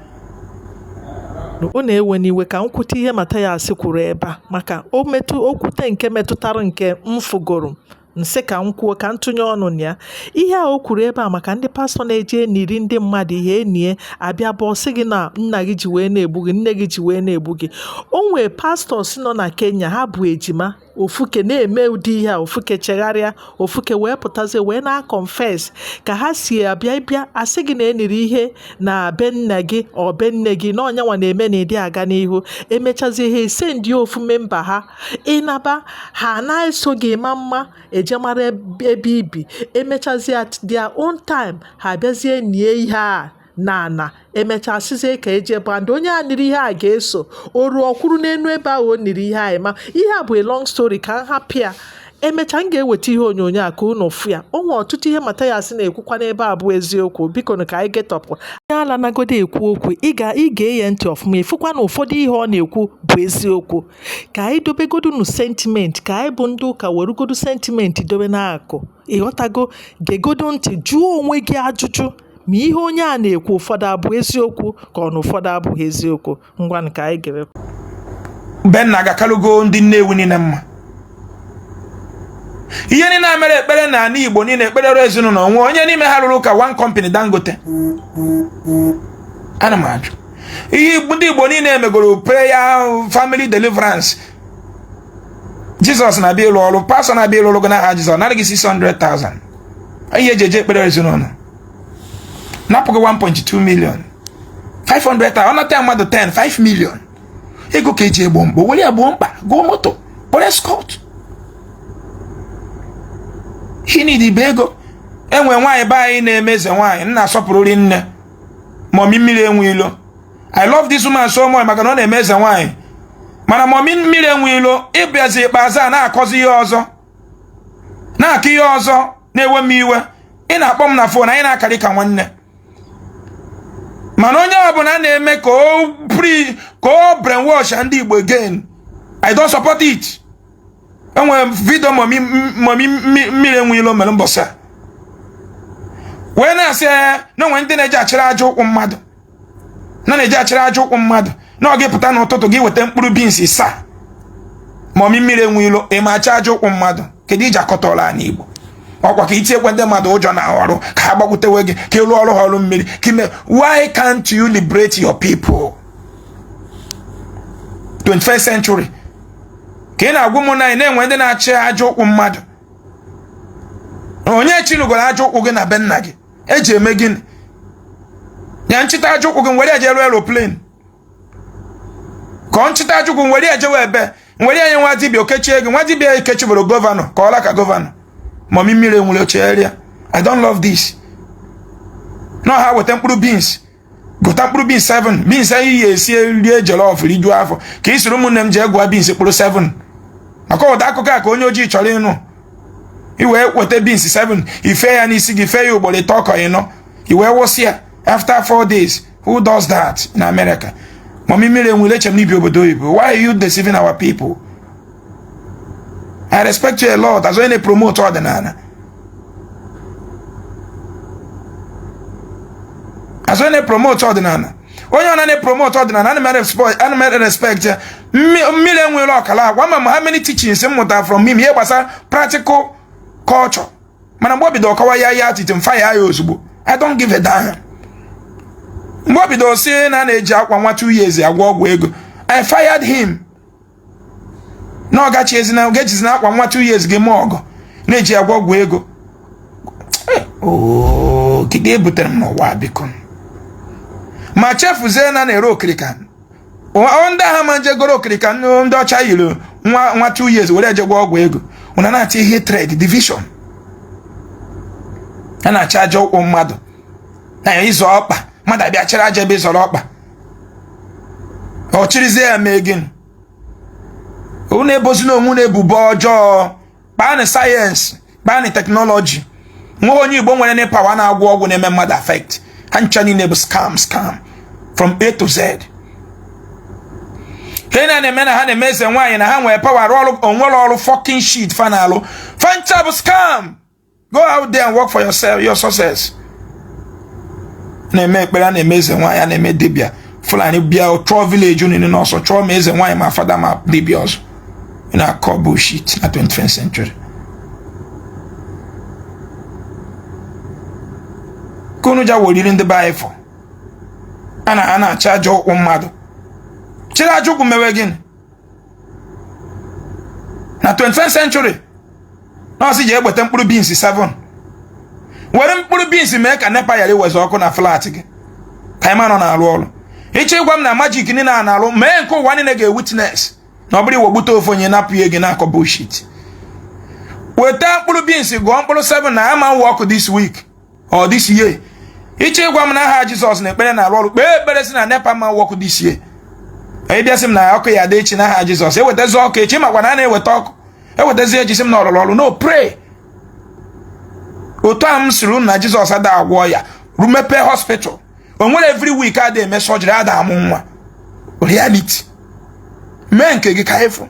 ọ na-ewe m iwe ka m kwute ihe Mathias kwuru ebe a maka o metụ o kwute nke metụtara nke m fụgoro m sị ka m kwuo ka m tụnye ọnụ na ya ihe a o kwuru ebe a maka ndị pastọ na-eje eniri ndị mmadụ ihe e nie a bịa bọọ sị gị na nna gị ji wee na-egbu gị nne gị ji wee na-egbu gị o nwee pastọs nọ na kenya ha bụ ejima ofuke na-eme ụdị ihe a ofuke chegharịa ofuke wee pụtazie wee na-akọnfes ka ha si abịa ị bịa a sị gị na e niri ihe na be nna gị ọ be nne gị na ọ nya nwa na-eme na ịdị aga n'ihu emechazie ha e send ofu memba ha ị naba ha na-eso gị ma mma eje mara ebe i bi emechazie at their own time ha bịazie nie ihe a na ana emechaa sizie ka e je bọọ and onye a niri ihe a ga-eso o ruo ọ kwụrụ n'elu ebe ahụ o niri ihe a ma ihe a bụ a long story ka m hapụ ya emechaa m ga-eweta ihe onyonyo a ka unu fụ ya o nwere ọtụtụ ihe Mathias na-ekwukwa n'ebe a bụ eziokwu bikonu ka anyị getọpụ onye ala nagodu ekwu okwu ị ga-ege ya ntị ọfụma ị fụkwa na ụfọdụ ihe ọ na-ekwu bụ eziokwu ka anyị dobegodu nu sentiment ka anyị bụ ndị ụka werugodu sentiment dobe n'akụ ị ghọtago gegodu ntị jụọ onwe gị ajụjụ ma ihe onye a na-ekwu ụfọdụ abụ eziokwu ka ọ na ụfọdụ abụghị eziokwu ngwanụ ka anyị gere Benna agakalụgo ndị Nnewi niile mma ihe niile e mere ekpere na ala Igbo niile ekpere ọrụ ezinụlọ o nwe onye n'ime ha ruru ka one company Dangote ana m ajụ ihe ndị igbo niile emegoro prayer family deliverance jizọs na-abịa ịlụ ọrụ pastọ na-abịa ịlụ ọrụ gị n'aha jizọs nara gị 600,000 ihe eji eje ekpere ezinụlọ napụ gị 1.2 million 500,000 ọ nata mmadụ 10 5 million ego ka eji egbo mkpa were ya gboo mkpa goo moto kpọrọ eskọt ihe niile bụ ego o nwe nwaanyị be anyị na-eme eze nwaanyị nna asọpụrụri nne mọmi mmiri enwe ilo i love this woman so much maka na ọ na-eme eze nwaanyị mana mọmi mmiri enwe ilo ị bịazi ikpeazụ a na-akọzi ihe ọzọ na-akọ ihe ọzọ na-ewe m iwe ị na-akpọ m na fon anyị na-akarị ka nwanne mana onye ọbụla na-eme ka ọ brainwashịa ndị Igbo again I don't support it o nwere vidio momi mmiri enwe ilo mere mbọsị a wee na-asị ya na o nwere ndị na-eje achịrị aja ụkwụ mmadụ na a na-eje achịrị aja ụkwụ mmadụ na gị pụta n'ụtụtụ gị weta mkpụrụ bins isaa momi mmiri enwe ilo ị ma achị aja ụkwụ mmadụ kedu iji akọtọla anyị igbo ọkwa ka i tinyekwuo ndị mmadụ ụjọ n'arụ ka ha gbakwutewe gị ka ị lụọrọ ha ọrụ mmiri ka ime why can't you liberate your people 21st century ka ị na-agwa m na e nwee ndị na-achị aja ụkwụ mmadụ onye chịnụgoro aja ụkwụ gị na be nna gị e ji eme gịnị ya nchịta aja ụkwụ gị nwere ya jee rụọ eroplane ka ọ nchịta aja ụkwụ nwere ya jewe ebee nwere ya nye nwa dibịa o kechie gị nwa dibịa ekechiberọ gọvanọ ka ọla ka gọvanọ mọmi mmiri enwe ilo chee ya i don't love this na ha weta mkpụrụ beans gụta mkpụrụ bins 7 bins anyị ji esi rie jollof rijuo afọ ka ị sịrị ụmụnne m jee gụọ bins mkpụrụ 7 maka ụdị akụkọ a ka onye ojii chọrọ ịnụ i wee weta bins 7 i fee ya n'isi gị fee ya ugboro ịtọ ka ọ ịnọ i wee wụsị ya after 4 days who does that in America mami mmiri enwe ilo eche m na i bi obodo oyibo why are you deceiving our people I respect you a lot as onye na-epromote ọdịnala as onye na-epromot ọdịnala onye ọ na-epromot ọdịnala ana m erespect ya mmiri enwe ilo ọkala agwa ma ma ha many teachings m mụtara from him ihe gbasara practical culture mana mgbe o bidoro kọwa ya ya atite m faya ya ozugbo i don't give a damn mgbe o bido sị na na-eji akwa nwa two years agwọ ọgwụ ego i fired him na ọ ga-echezi na ga-echezi na akwa nwa two years gị mee ọgọ na e ji agwọ ọgwụ ego Oo, kedu ihe butere m n'ụwa a, biko ma chefuzie na a na-ere okirika Ọ- ndị a ha ama je goro okirika ndị ndị ọcha yiri nwa nwa two years were je gwọọ ọgwụ ego ụnụ na-achọ hatred division a na-achị aja ụkwụ mmadụ na ị zọọ ọkpa mmadụ abịa chịrị aja ebe ị zọrọ ọkpa ọ chịrịzie ya mee gịnị unu ebozina onwe unu ebubo ọjọọ baanụ sayensị baanụ teknọlọjị o nwehọ onye igbo nwerenụ pawa na-agwọ ọgwụ na-eme mmadụ afekt ha ncha niile bụ scam scam from a to z ihe na na-eme na ha na-eme eze nwaanyị na ha nwere pawa rụọ ọrụ o nwerọ ọrụ fọkin shit fa na-alụ fa ncha bụ scam go out there and work for yourself your success na-eme ekpere a na-eme eze nwaanyị a na-eme dibịa fulani bịa chụọ village unu niile n'ọsọ chụọ ma eze nwaanyị ma fada ma dibịa ọsọ na-akọ bullshit na 21st century ka unu ji awọriri ndị be anyị fọ a na-achị aja ụkwụ mmadụ chịrị aja ụkwụ mewe gịnị na 21st century na ọ sị gị wete mkpụrụ beans 7 were mkpụrụ beans mee ka nepa yara iwezi ọkụ na flat gị ka ị ma na ọ na-arụ ọrụ ị chọ ịgwa m na magic niile a na-arụ mee nke ụwa niile ga-ewitness na ọ bụrọ iwebute ofu onye napụ ya gị na-akọ bullshit weta mkpụrụ beans gụọ mkpụrụ 7 na ama ewe ọkụ this week or this year ị chọ ịgwa m na aha jizọs na ekpere na-arụ ọrụ kpee ekpere sị na nepa ama ewe ọkụ this year ị bịa sị m na ọkụ ya-adị echi n'aha jizọs ewetazi ọkụ echi maka na a na-eweta ọkụ ewetazi echi sị m na ọ rụrụ ọrụ no pray otu a m sịrị unu na jizọs ada agwọ ọya rụ mepe hospital o nwere every week ada eme surgery ada amụ nwa reality mee nke gị ka ị fụ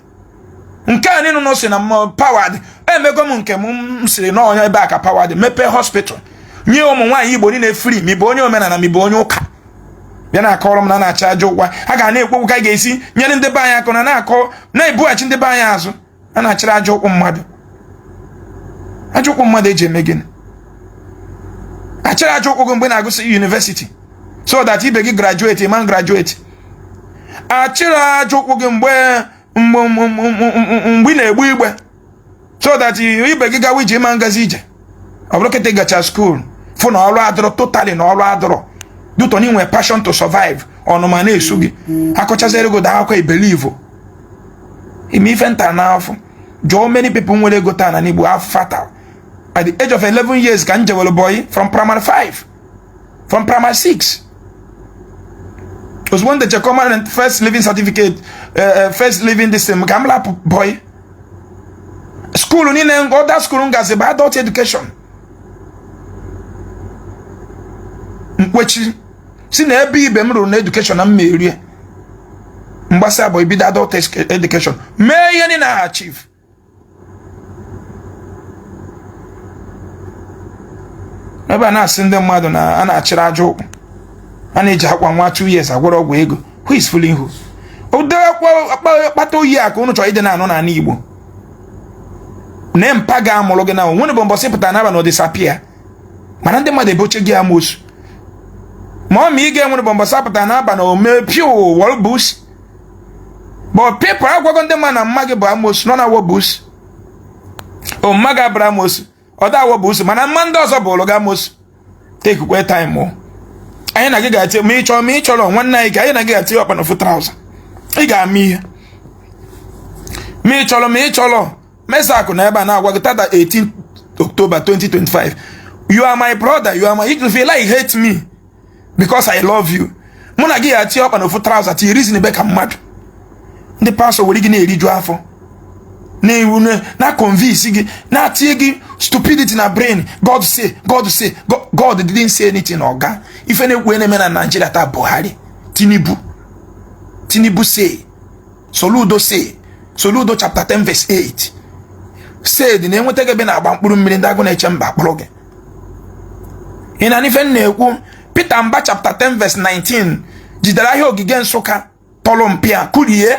nke a niile nọ sị na mma power dị emego m nke m sịrị n'ọnya ebe a ka power dị mepee hospital nye ụmụ nwaanyị igbo niile free ma ị bụ onye omenala ma ị bụ onye ụka bịa na-akọrọ m na a na-achị aja ụkwụ a ga na-ekwekwu ka a ga-esi nyere ndị be anyị aka unu na-akọ na-ebughachi ndị be anyị azụ a na-achịrị aja ụkwụ mmadụ aja ụkwụ mmadụ eji eme gịnị achịrị aja ụkwụ gị mgbe ị na-agụsị university so that ibe gị graduate ị ma graduate achịrị aja ụkwụ gị mgbe mgbe ị na-egbu igbe so that ibe gị gawa ije ị ma ngazi ije ọ bụrụ kịta ị gachaa school fụ na ọrụ adịrọ totally na ọrụ adịrọ due to na i nwerọ passion to survive ọnụma na-esu gị akọchaziri gị akụkọ ị belivo ime ife nta n'afọ jụọ many people nwere ego taa na n'igbo afụ fa taa at the age of 11 years ka m jewere boy from primary 5 from primary six ozugbo m dechakwara first leaving certificate eh, eh, first leaving this thing ka m lapụ boy school niile other school m gazi bụ adult education m kwechie sị na ebe ibe m ruru na education na m ya-eru ya m gbasịa boy bido adult education mee ihe niile ha achieve ebe a na-asị ndị mmadụ na a na-achịrị aja ụkwụ a na-eji akwa nwa two years agwọrọ ọgwụ ego who is fooling who kpata ọ ihe a ka unu chọrọ ịdị na-anụ n'ala Igbo na mpa gị mụrụ gị na nwere bụ mbọsị pụtara n'aba na ọ disappear mana ndị mmadụ eboche gị amosu ma ọ ma ị ga-enwere bụ mbọsị apụtara n'aba na ome piu wọlbus but people agwago ndị mma na mma gị bụ amosu nọ na wobusu o mma gị abụrụ amosu ọ da wobusu mana mma ndị ọzọ bụrụ gị amosu takekwa time o anyị na gị ga-ati ma ị chọọ ma ị chọrọ nwanne anyị ka anyị na gị ga-ati ọkpa na ofu traụza ị ga-ama ihe ma ị chọrọ ma ị chọrọ mesakụ na ebe a na-agwa gị tata 18 October 2025 you are my brother you are my if you like hate me because I love you mụ na gị ya tie ọkpa na ofu traụza tinye reason ebe ka mmadụ ndị pastọ were gị na-eriju afọ na-ewu na-convince gị na-atinye gị stupidity na brain God say God say God didn't say anything na ọga ife na-ekwu na-eme na Naịjirịa taa Buhari Tinubu Tinubu say Soludo say Soludo chapter 10 verse 8 said na e nweta gị ebe ị na-agba mkpụrụ mmiri ndị Agụnechemba akpọrọ gị ị na-anụ ife m na-ekwu Peter Mba chapter 10 verse 19 jidere ahịa ogige Nsụka tọrọ mpịa kụrie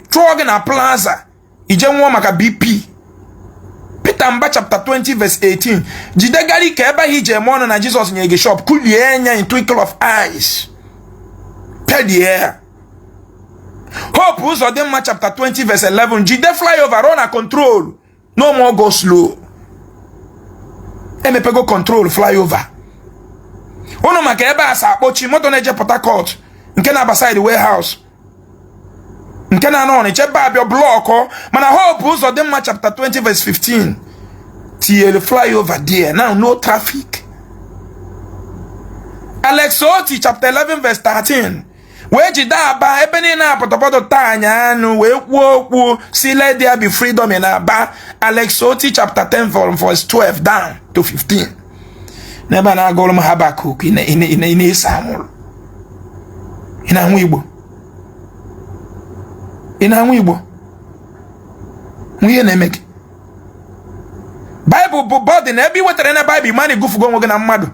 chụọ gị na plaza i je nwụọ maka BP Peter Mba chapter 20 verse 18 jide Gariki ebe ahụ i ji eme ọnụ na Jizọs nye gị shop kụrie ya in twinkle of eyes pedie ya Hope Uzodinma chapter 20 verse 11 jide flyover rụọ na Control no more go slow emepego Control flyover ụnụ ma ka ebe a si akpọchi moto na-eje Port Harcourt nke na-aba side warehouse nke na-ana Ọnịcha ebe a bịa blọkụ mana Hope Uzodinma chapter 20 verse 15 tinyere flyover there now no traffic Alex Oti chapter 11 verse 13 wee jide Aba ebe niile a pọtọpọtọ taa anyị anụ wee kwuo okwu sị let there be freedom in Aba Alex Oti chapter 10 from verse 12 down to 15 n'ebe a na-agụrụ m Habakuk ị na-ese anwụrụ ị na-aṅụ igbo ị na-aṅụ igbo gịnị na-eme gị baịbụl bụ bọdị na ebe ị wetara na baịbụl ị ma na ị gụfugo onwe gị na mmadụ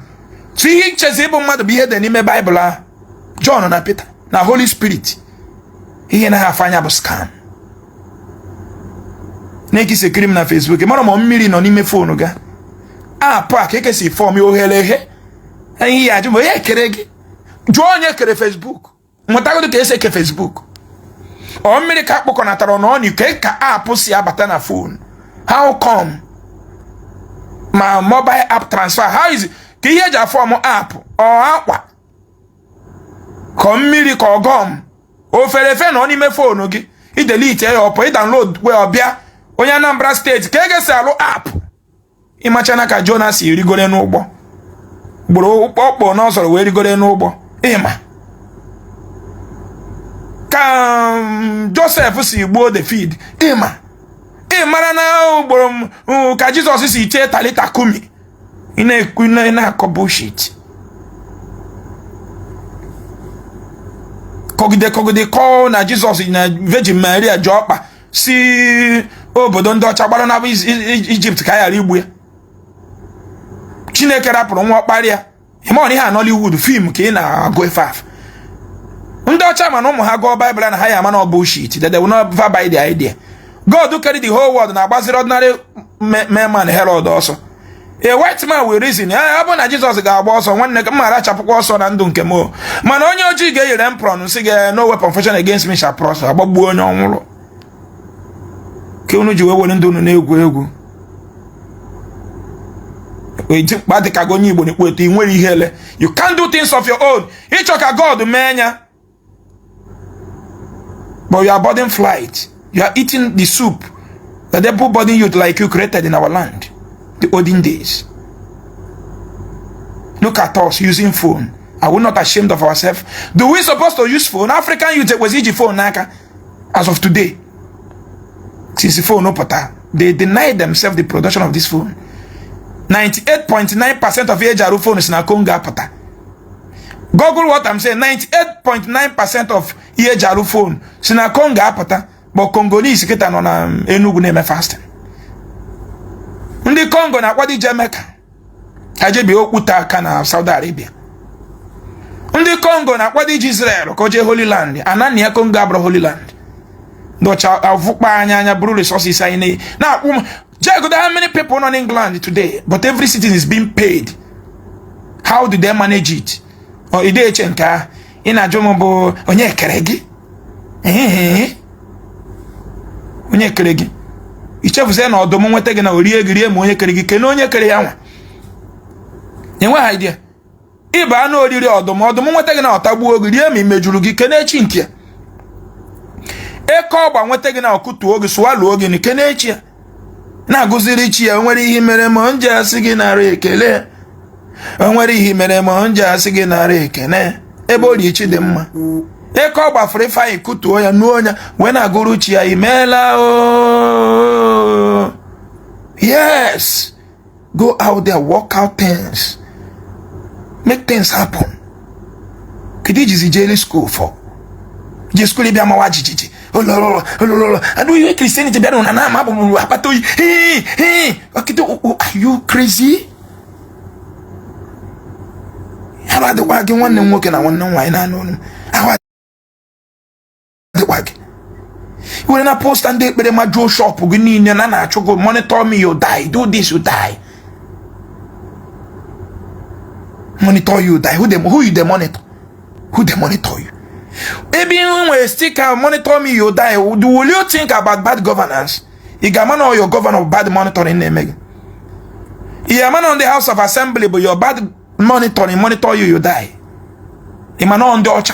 chi ihe i chezi ịbụ mmadụ bụ ihe dị n'ime baịbụl ahụ Jọn na Pita na Holy Spirit ihe anaha afụ anya bụ scam na ka i si ekiri m na Facebook mara ma mmiri nọ n'ime foonu gị app a ka e kesi form ya oghere eghe ihe ya ajụ ma onye kere gị jụọ onye kere Facebook mụtagodo ka e si eke Facebook ọ mmiri ka akpọkọnatara na ọnụ ike ka app si abata na foonu how come ma mobile app transfer how is ka ihe e ji a-form app ọ akwa kọ mmiri ka ọgọm o fere efe nọ n'ime foonu gị i delete ya ọ pụ ị download ya ọ bịa onye Anambra steeti ka a ga-esi alụ app ị machana ka Jona si rigore n'ụgbọ gburu ọkpọ n'ọsọrọ wee rigore n'ụgbọ ị ma ka um, Josef si gbuo David ị ma ị marana ugboro ka Jizọs si chee talita kumi ị na-ekwu ị na-akọ bullshit kọgide kọgide kọọ na jizọs na virgin maria ji ọkpa si obodo ndị ọcha gbara naba ijipt ka a ghara igbu ya chineke rapụrụ nwa ọkpara ya ị ma na ihe a Nollywood fim ka ị na-agụ ife afụ ndị ọcha ma na ụmụ ha gụọ baịbụl na ha ya-ama na ọ bụ shit that they will not ever buy the idea God kere the whole world na-agbaziri ordinary mere man Herod ọsọ a white man will reason ya eh, ọ bụ na Jizọs ga-agba ọsọ nwanne m mara achapụkwa ọsọ na ndụ nke m mana onye ojii ga-eyere m prọn si ga eh, no weapon fashioned against me shall prosper a gbagbuo onye ọ nwụrụ ka unu ji wee were ndụ unu na-egwu egwu dimkpa dị ka gị onye igbo na-eto eto i nwere ihere you can't do things of your own ị chọ ka God mee ya but you are boarding flight you are eating the soup that everybody youth like you created in our land the olden days look at us using phone are we not ashamed of ourselves do we suppose to use phone African youth kwesị iji phone n'aka as of today since phone pụta they deny themselves the production of this phone 98.9 percent of e ji arụ phone si na congo apụta google what i'm saying 98.9 percent of ihe e ji arụ phone si na congo apụta but congolese kịta nọ na um, enugu na-eme fasting ndị congo na-akwado ije mecca ha je bie okwute aka na Saudi Arabia ndị Kongo na-akwado ije Israel ka o jee Holy Land ana nna ya Kongo abụrọ Holy Land ndị ọcha avụkpa anyị anya buru resources anyị na-akwụ m jegodu how many people nọ n'England today but every citizen is being paid how do they manage it? ọ i de-eche nke ahụ ị na-ajụ m bụ onye kere gị onye kere gị i chefuzie na ọdụm nweta gị na o rie gị rie ma onye kere gị kelee onye kere ya nwa enweghị idea ị bụ anụ oriri ọdụm ọdụm nweta gị na ọ tagbuo gị rie ma imeju gị kene chi nke ya eke ọgba nweta gị na ọ kụtuo gị swallow gị na-ekene chi ya na-agụziri chi ya o nwere ihe i meere m m ji asị gị nara ekele o nwere ihe i meere m m ji asị gị nara ekele ebe o ri Chidịmma eke ọgba fụrụ Ifeanyị kụtuo ya nuo ya wee na-agụrụ chi ya imeela o yes go out there work out things make things happen kedu i jizi jeli school for je school bịa mawa jijiji olololo olololo adu ihe Christianity bịa na na-ama bụ mụrụ akpata oyi hii hii ọkịta are you crazy ya bụ adịkwa gị nwanne m nwoke na nwanne m nwaanyị na-anụ ọnụ ahụ dịkwa gị were na poster ndị ekpere majuo shop gị niile na na-achụ gị monitor me you die do this you die monitor you die who, dey, who you dey monitor who dey monitor you ebe ihu nwere sticker monitor me you die will you think about bad governance ị ga-ama na your governor bad monitoring na-eme gị ị ga-ama na ndị house of assembly bụ your bad monitoring monitor you you die ị ma na ndị ọcha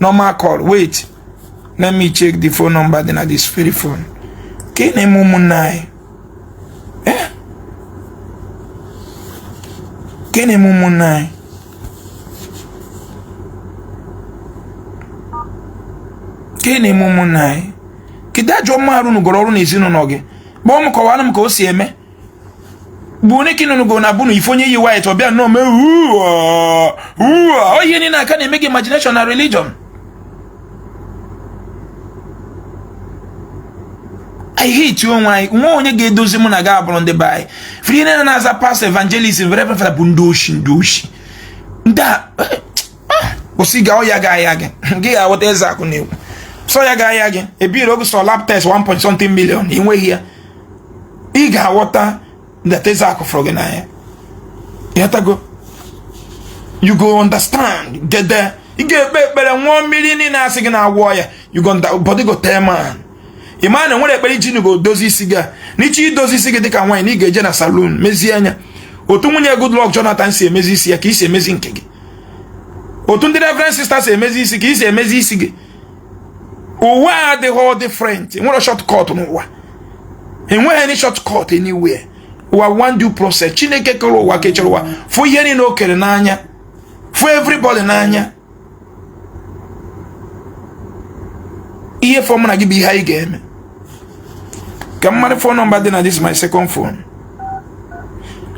normal call wait let me check the phone number dị na this very phone ka ị na-eme ụmụnne anyị eh? ka ị na-eme ụmụnne anyị ka ị na-eme ụmụnne anyị kedu ajọ mma a rụnụgoro ọrụ n'ezinụlọ gị kpọọ m kọwara m ka o si eme bụ onye ka ị nụnụgo na abụnụ ị fụ onye yi white ọ bịa nnọọ mee uo ihe niile a ka na-eme gị imagination na religion anyị hate onwe anyị nwa onye ga-edozi mụ na gị abụrụ ndị be anyị free ihe niile na-aza pastor evangelist reverend father bụ ndị oshi ndị oshi ndị a eh, ah, kwụsị ga ọya gị ahịa gị ị ga-aghọta eze akụ na egwu sọ ya ga ahịa gị ebiri oge sọ lab test 1.something million ị nweghị ya ị ga-aghọta that eze akụ fụrụ gị n'anya ị ghọtago you go understand gede ị ga-ekpe ekpere nwụọ mmiri niile a sị gị na-agwọ ọya you go body go tell man ị ma na nwere ekpere i jinugo dozie isi gị na ị chọọ idozi isi gị dịka nwaanyị na ị ga-eje na saloon mezie ya otu nwunye Goodluck Jonathan si emezi isi ya ka e si emezi nke gị otu ndị reverend sisters si emezi isi ka e si emezi isi gị ụwa adịghị different nwerọ shortcut n'ụwa enweghị any shortcut anywhere ụwa nwere due process chineke kere ụwa kechara ụwa fụ ihe niile o kere n'anya fụ everybody n'anya ihe fọ mụ na gị bụ ihe anyị ga-eme ka mmadụ phone number dị na this my second phone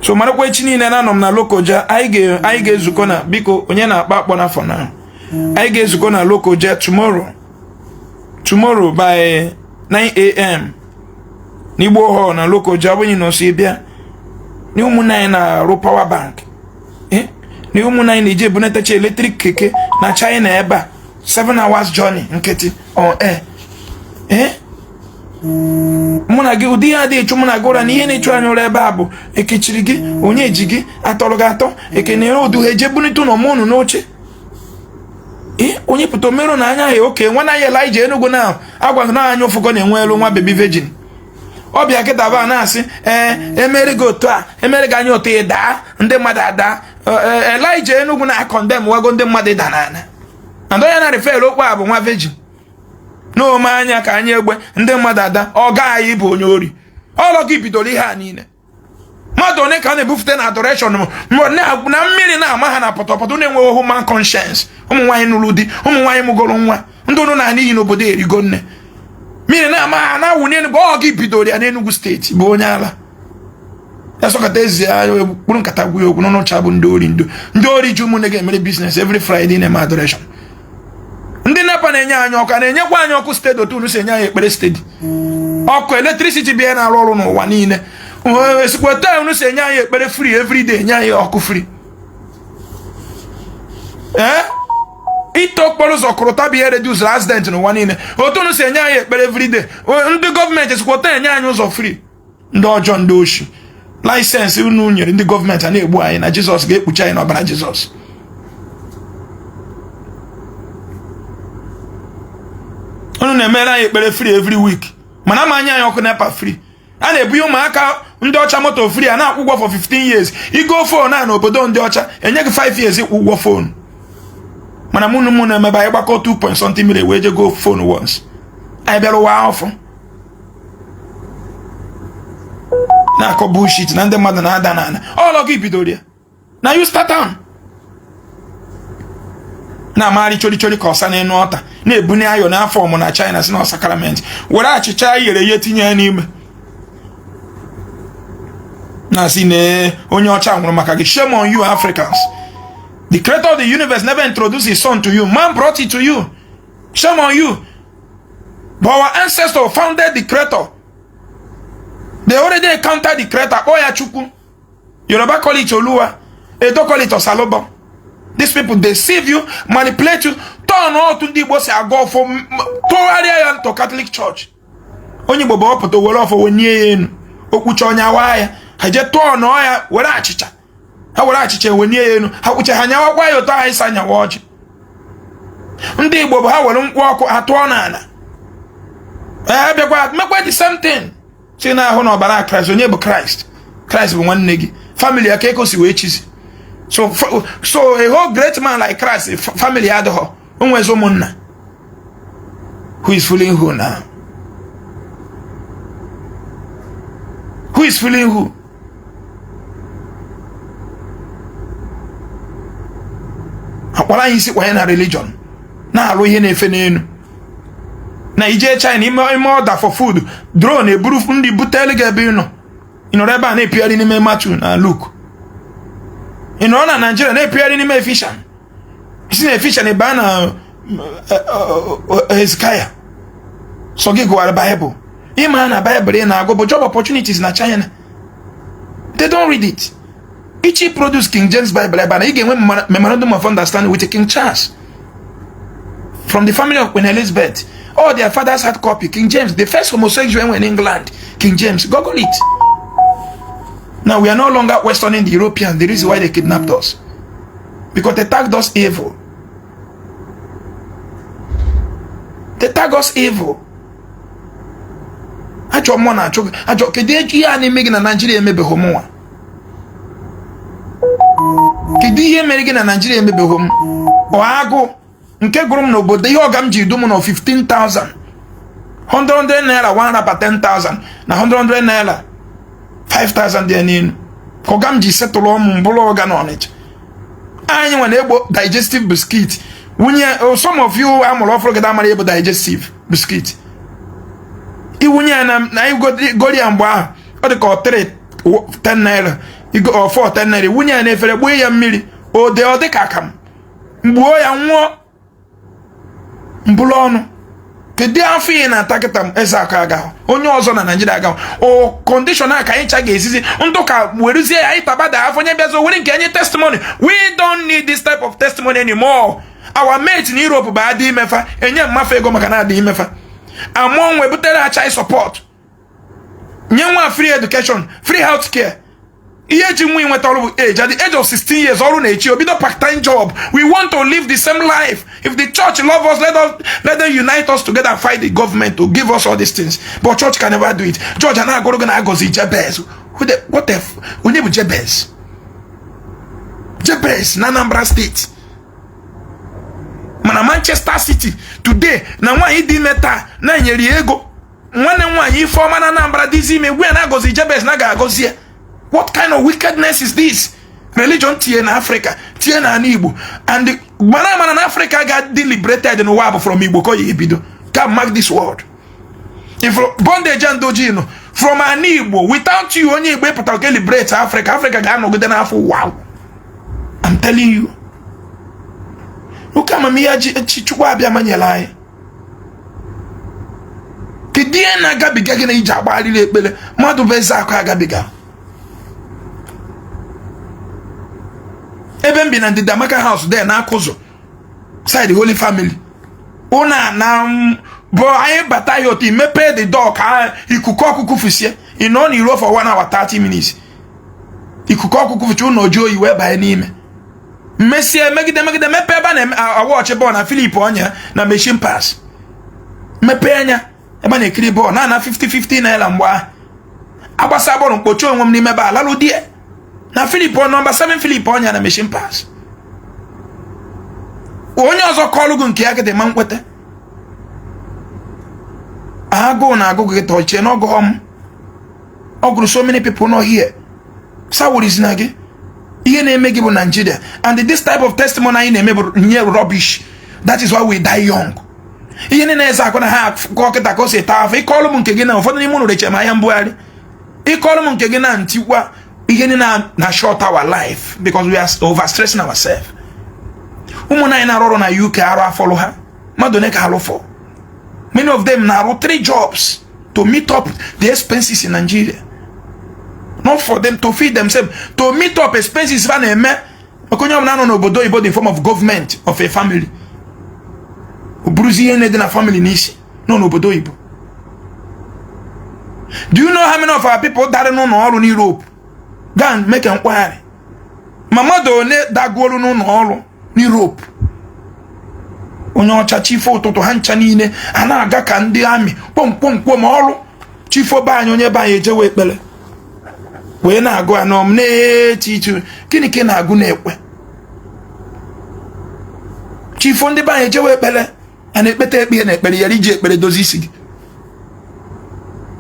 so marakwa echi niile na anọ m na lokoja anyị ga-ezukọ na biko onye na-akpọ akpọ na phone anyị ga-ezukọ na Lokoja tomorrow tomorrow by 9am n'Igbo hall na Lokoja abụghị na ọsọ bịa na ụmụnne anyị na-arụ power bank eh? na ụmụnne anyị na-eji ebunatacha electric keke na China ebe a 7 hours journey nkịtị on air eh? mụ na gị ụdị ihe adịghị achụ mụ na gị ụra na ihe na-achụ anyị ụra ebe a bụ ekechiri gị onye ji gị atọrọ gị atọ ekene ụdụ ha eje bunite ụlọ mụ n'oche onye pụta omerụ na anya ya oke nwa na ya Elijah Enugu na agwa gị na anya ụfụkọ na-enwe elu nwa baby virgin ọ bịa kịta ba na-asị ee eh, emere gị otu a emere gị anya otu ị daa ndị mmadụ ada eh, eh, Elijah Enugu na akọndemwago ndị mmadụ ịda n'ala ada ya na refel okwu a bụ nwa virgin na-eme anya ka anyị egbe ndị mmadụ ada ọ gị bụ onye ori ọlọ gị bidoro ihe a niile mmadụ niile ka a na-ebufute na adoration na mmiri na-ama ha na pọtọpọtọ na-enweghị human conscience ụmụ nwaanyị nụrụ di ụmụ nwaanyị mụgoro nwa ndị ụnụ na-ana iyi n'obodo erigo nne mmiri na-ama ha na-awụ n'elu bụ ọ gị bidoro ya n'Enugu State bụ onye ala ya sọkọta ezi ya kpụrụ nkata gwụ ya okwu n'ọnụcha bụ ndị ori ndo ndị ori ji ụmụnne gị emere business every Friday na-eme adoration ndị NEPA na-enye anyị ọkụ na-enyekwa anyị ọkụ steady otu unu si enye anyị ekpere steady ọkụ electricity bịa na-arụ ọrụ n'ụwa niile esikwa otu unu si enye anyị ekpere free everyday enye anyị ọkụ free ee ite okporo ụzọ korota bụ ihe reduziri accident n'ụwa niile otu unu si enye anyị ekpere everyday ndị gọọmenti esikwa otu a enye anyị ụzọ free ndị ọjọọ ndị oshi license unu nyere ndị gọọmenti a na-egbu anyị na jizọs ga-ekpuchi anyị n'ọbara jizọs unu na-emere anyị ekpere free every week mana ama enye anyị ọkụ NEPA free a na-ebunye ụmụaka ndị ọcha moto free a na-akwụ ụgwọ for 15 years igo phone a n'obodo ndị ọcha enye gị 5 years ịkwụ ụgwọ phone mana mụ na mụ na-emebe anyị gbakọ 2 point something million wee je go phone once anyị bịara ụwa ahụ na-akọ bullshit na ndị mmadụ na-ada n'ala ọlọ gị bidoro ya na you start am na-amagharị chorichori ka ọsa n'elu altar na-ebunye iron a fọmụ na China sị na ọ sacrament were achịcha eyere eye tinye ya n'ime na-asị na onye ọcha nwụrụ maka gị shame on you Africans the creator of the universe never introduced his son to you man brought it to you shame on you But our ancestor founded the creator. They already encountered the creator. Ọ ya Chukwu. Yoruba call it Oluwa. Edo call it Osalobua. These people deceive you, manipulate you, turn otu ndị Igbo si agọ ọfọ tụgharịa ya into Catholic Church. Onye Igbo bụ ọ pụta were ọfọ wenye ya enu. O kwuchaa onye awa ya. Ha je turn-ụọ ya were achịcha. ha were achịcha ewenye ya elu ha kwụcha ha nyawakwa ya otu anyị si anyawa ọjị ndị igbo bụ ha were nkwụ ọkụ atụọ n'ala ee bịakwa mekwa the same thing sị na ahụ na ọbara kraịst onye bụ kraịst kraịst bụ nwanne gị famili ya ka ekosi wee chizi so so a whole great man like kraịst famili adịghọ o nwezi ụmụnna who is fooling who now who is fooling who akpọla anyị isi kwanye na religion na-alụ ihe na-efe n'elu na i je china i mee i mee ọda for food drone eburu nni butelu gị ebe ị nọ ị nọrọ ebe a na-epigharị n'ime matiu na luk ị nọrọ na naijiria na-epigharị n'ime efishan si na efishan baa na eh, eh, eh, hezikaya sọ gị gụwara baịbụl ị ma na baịbụl ị na-agụ bụ job opportunities na china they don't read it ị chọọ i produce king james bible ebe na ị ga-enwe memorandum of understanding with king charles from the family of queen elizabeth all their fathers had copy king james the first homosexual enwe in england king james google it now we are no longer questioning the europeans the reason why they kidnapped us because they tagged us evil they tagged us evil ajọ mmụọ na-achụ gị achụ keduzi ihe a na-eme gị na naijiria emebeghị mụ nwa kedu ihe mere gị na naijiria emebeghị m ọ agụụ nke gụrụ m n'obodo ihe ọga m ji duo m ụnọ 15,000 100 naira 1 rapa 10,000 na 100 naira 5,000 dị n'elu ka ọga m ji setụlụọ mụ m bụrụ ọga na ọnịcha anyị nwa na-egbo digestive biscuit wunye oh, some of you amụrụ ọfụrụ gada amara egbo digestive biscuit iwunye ya na anyị goro ya mgbe ahụ ọ dị ka ọ 3 10 naira ọ 4 10 naira wunye ya na efere gbuo ya mmiri o dee ọ dị ka akamụ m gbuo ya ṅụọ m bulu ọnụ kedu afụfụ ị na-ata kịta eze akụ agahụ onye ọzọ na naijiria agahụ o kọndishọn a ka anyị cha ga-esizi ndị ụka werezie ya anyị tabada afụfụ onye bịazi were nke a nye testimony we don't need this type of testimony anymore our mate na Europe bụ a dị ime fa enye mma fa ego maka na a dị ime fa amụọ nwa ebutere ya child support nye nwa free education free health care ihe eji wee nweta ọrụ bụ age at the age of 16 years ọrụ na-eche ya o bido part time job we want to live the same life if the church love us let, us, let them unite us together and fight the government to give us all these things but church can never do it church a na-agụrụ gị na agọzi jebez what if onye bụ jebez jebez na anambra steeti mana manchester city today na nwaanyị dị ime taa na-enyere ya ego nwanne m nwaanyị Ifeọma na Anambra dịzi ime gwe na agọzi Jabez na ga-agọzi ya what kind of wickedness is this religion tinye na Africa tinye na ala Igbo and mara amara na Africa ga-adị liberated n'ụwa bụ from Igbo ka ọ ya-ebido ka mark this word bondage ndị ojii nọ from an Igbo without you onye Igbo ịpụtara ka liberate Africa Africa ga-anọgide n'afọ wow I'm telling you oke amamihe ji Chukwu Abịama nyere anyị kedu ihe na-agabiga gị na iji agbagharị ekpere mmadụ bụ eze akụ agabiga ebe m bi na ndịda Amaka House dị na Akụzọ side Holy Family ụnọ na-abụ anyị bata ya otu imepee the door ka ikuku ọkụ kufusie ị nọ n'iro for one hour 30 minutes ikuku ọkụ kufusie ụlọ jụọ oyi wee banye n'ime mesịa emegide emegide mepee ebe a na-awọchị bọọlụ na Philip Onye na machine pass mepee anya ebe a na-ekiri bọọlụ na na 50-50 naira mgbe ahụ agbasaa bọọlụ m kpochie onwe m n'ime ebe a lalụ there na Philip nọmba 7 Philip Onye na machine pass onye ọzọ kọọlụ gị nke ya gịdị ma nkweta agụụ na-agụ gị ị chee na ọ gụghọ m ọ gụrụ so many people nọ here so ọ bụrọzi na gị ihe na-eme gị bụ Nigeria and this type of testimony anyị na-eme bụ nye rubbish that is why we die young ihe niile eze akụ na ha akụkọ kịta ka o si taa afụfụ ị kọọlụ m nke gị na ụfọdụ n'ime ụnụ rechaa ahịa mbugharị ị kọọlụ m nke gị na ntikwa ihe niile na-short our life because we are overstressing ourselves ụmụnna anyị na-arụ ọrụ na UK arụ afọlụ ha mmadụ one ka alụfọ many of them na-arụ three jobs to meet up the expenses in Nigeria not for them to feed themselves to meet up expenses fa na-eme maka onye ọbụla nọ n'obodo oyibo the form of government of a family ọ bụrụzi ihe na-adị na family n'isi nọ n'obodo oyibo do you know how many of our people dara n'ụlọ ọrụ n'Europe go and make inquiry ma mmadụ one dagolu n'ụlọ ọrụ n'Europe onye ọcha chi fo ụtụtụ ha ncha niile a na-aga ka ndị army kpom kpom kpom ọrụ chi fo be anyị onye be anyị ejewe ekpere wee na-agụ anọ m n'etiti gịnị ka ị na-agụ na-ekwe chi fo ndị be anyị ejewe ekpere a na-ekpeta ekpe na ekpere ị yara iji ekpere dozie isi gị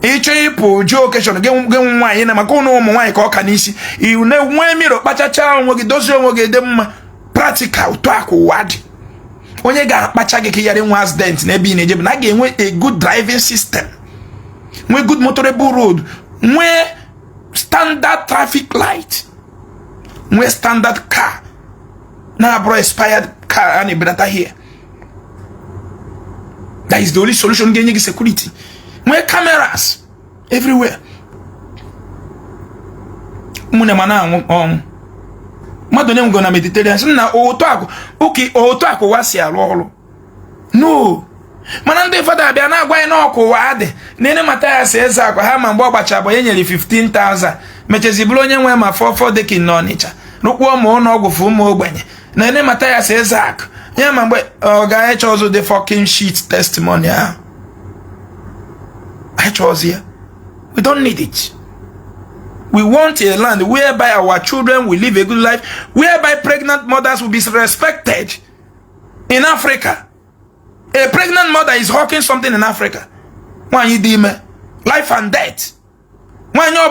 ị chọọ ịpụ jee occasion gị nwa nwaanyị na maka ụnụ ụmụ nwaanyị ka ọ ka n'isi ụnụ na-enwe mirror kpachacha onwe gị dozie onwe gị dị mma practical otu a ka ụwa dị onye ga-akpacha gị ka ị yara nwee accident na ebe ị na-eje bụ na a ga-enwe a good driving system nwee good motorable road nwee standard traffic light nwee standard car na-abụrọ expired car a na-ebunata here that is the only solution ga-enye gị security nwee cameras everywhere ụmụnne m a na-anwụ ọnwụ mmadụ ole nwụgo na Mediterranean Sea na otu akụ ụka otu akụ ụwa si arụ ọrụ no mana ndị fada abịa na-agwa anyị n'ọkụ ụwa adị na ene mata ya si eze akwa ha ma mgbe ọ gbacha bụ e nyere 15,000 mechezi bụrụ onye nwe ma four four decking na Ọnịcha rụkwuo ma ụlọ ọgwụ for ụmụ ogbenye na ene mata ya si ezak ya ma mgbe ọ ga eche ọzọ the fucking shit testimony ahụ echezọ ya we don't need it we want a land whereby our children will live a good life whereby pregnant mothers will be respected in africa a pregnant mother is hawking something in africa nwaanyị dị ime life and death nwaanyị ọ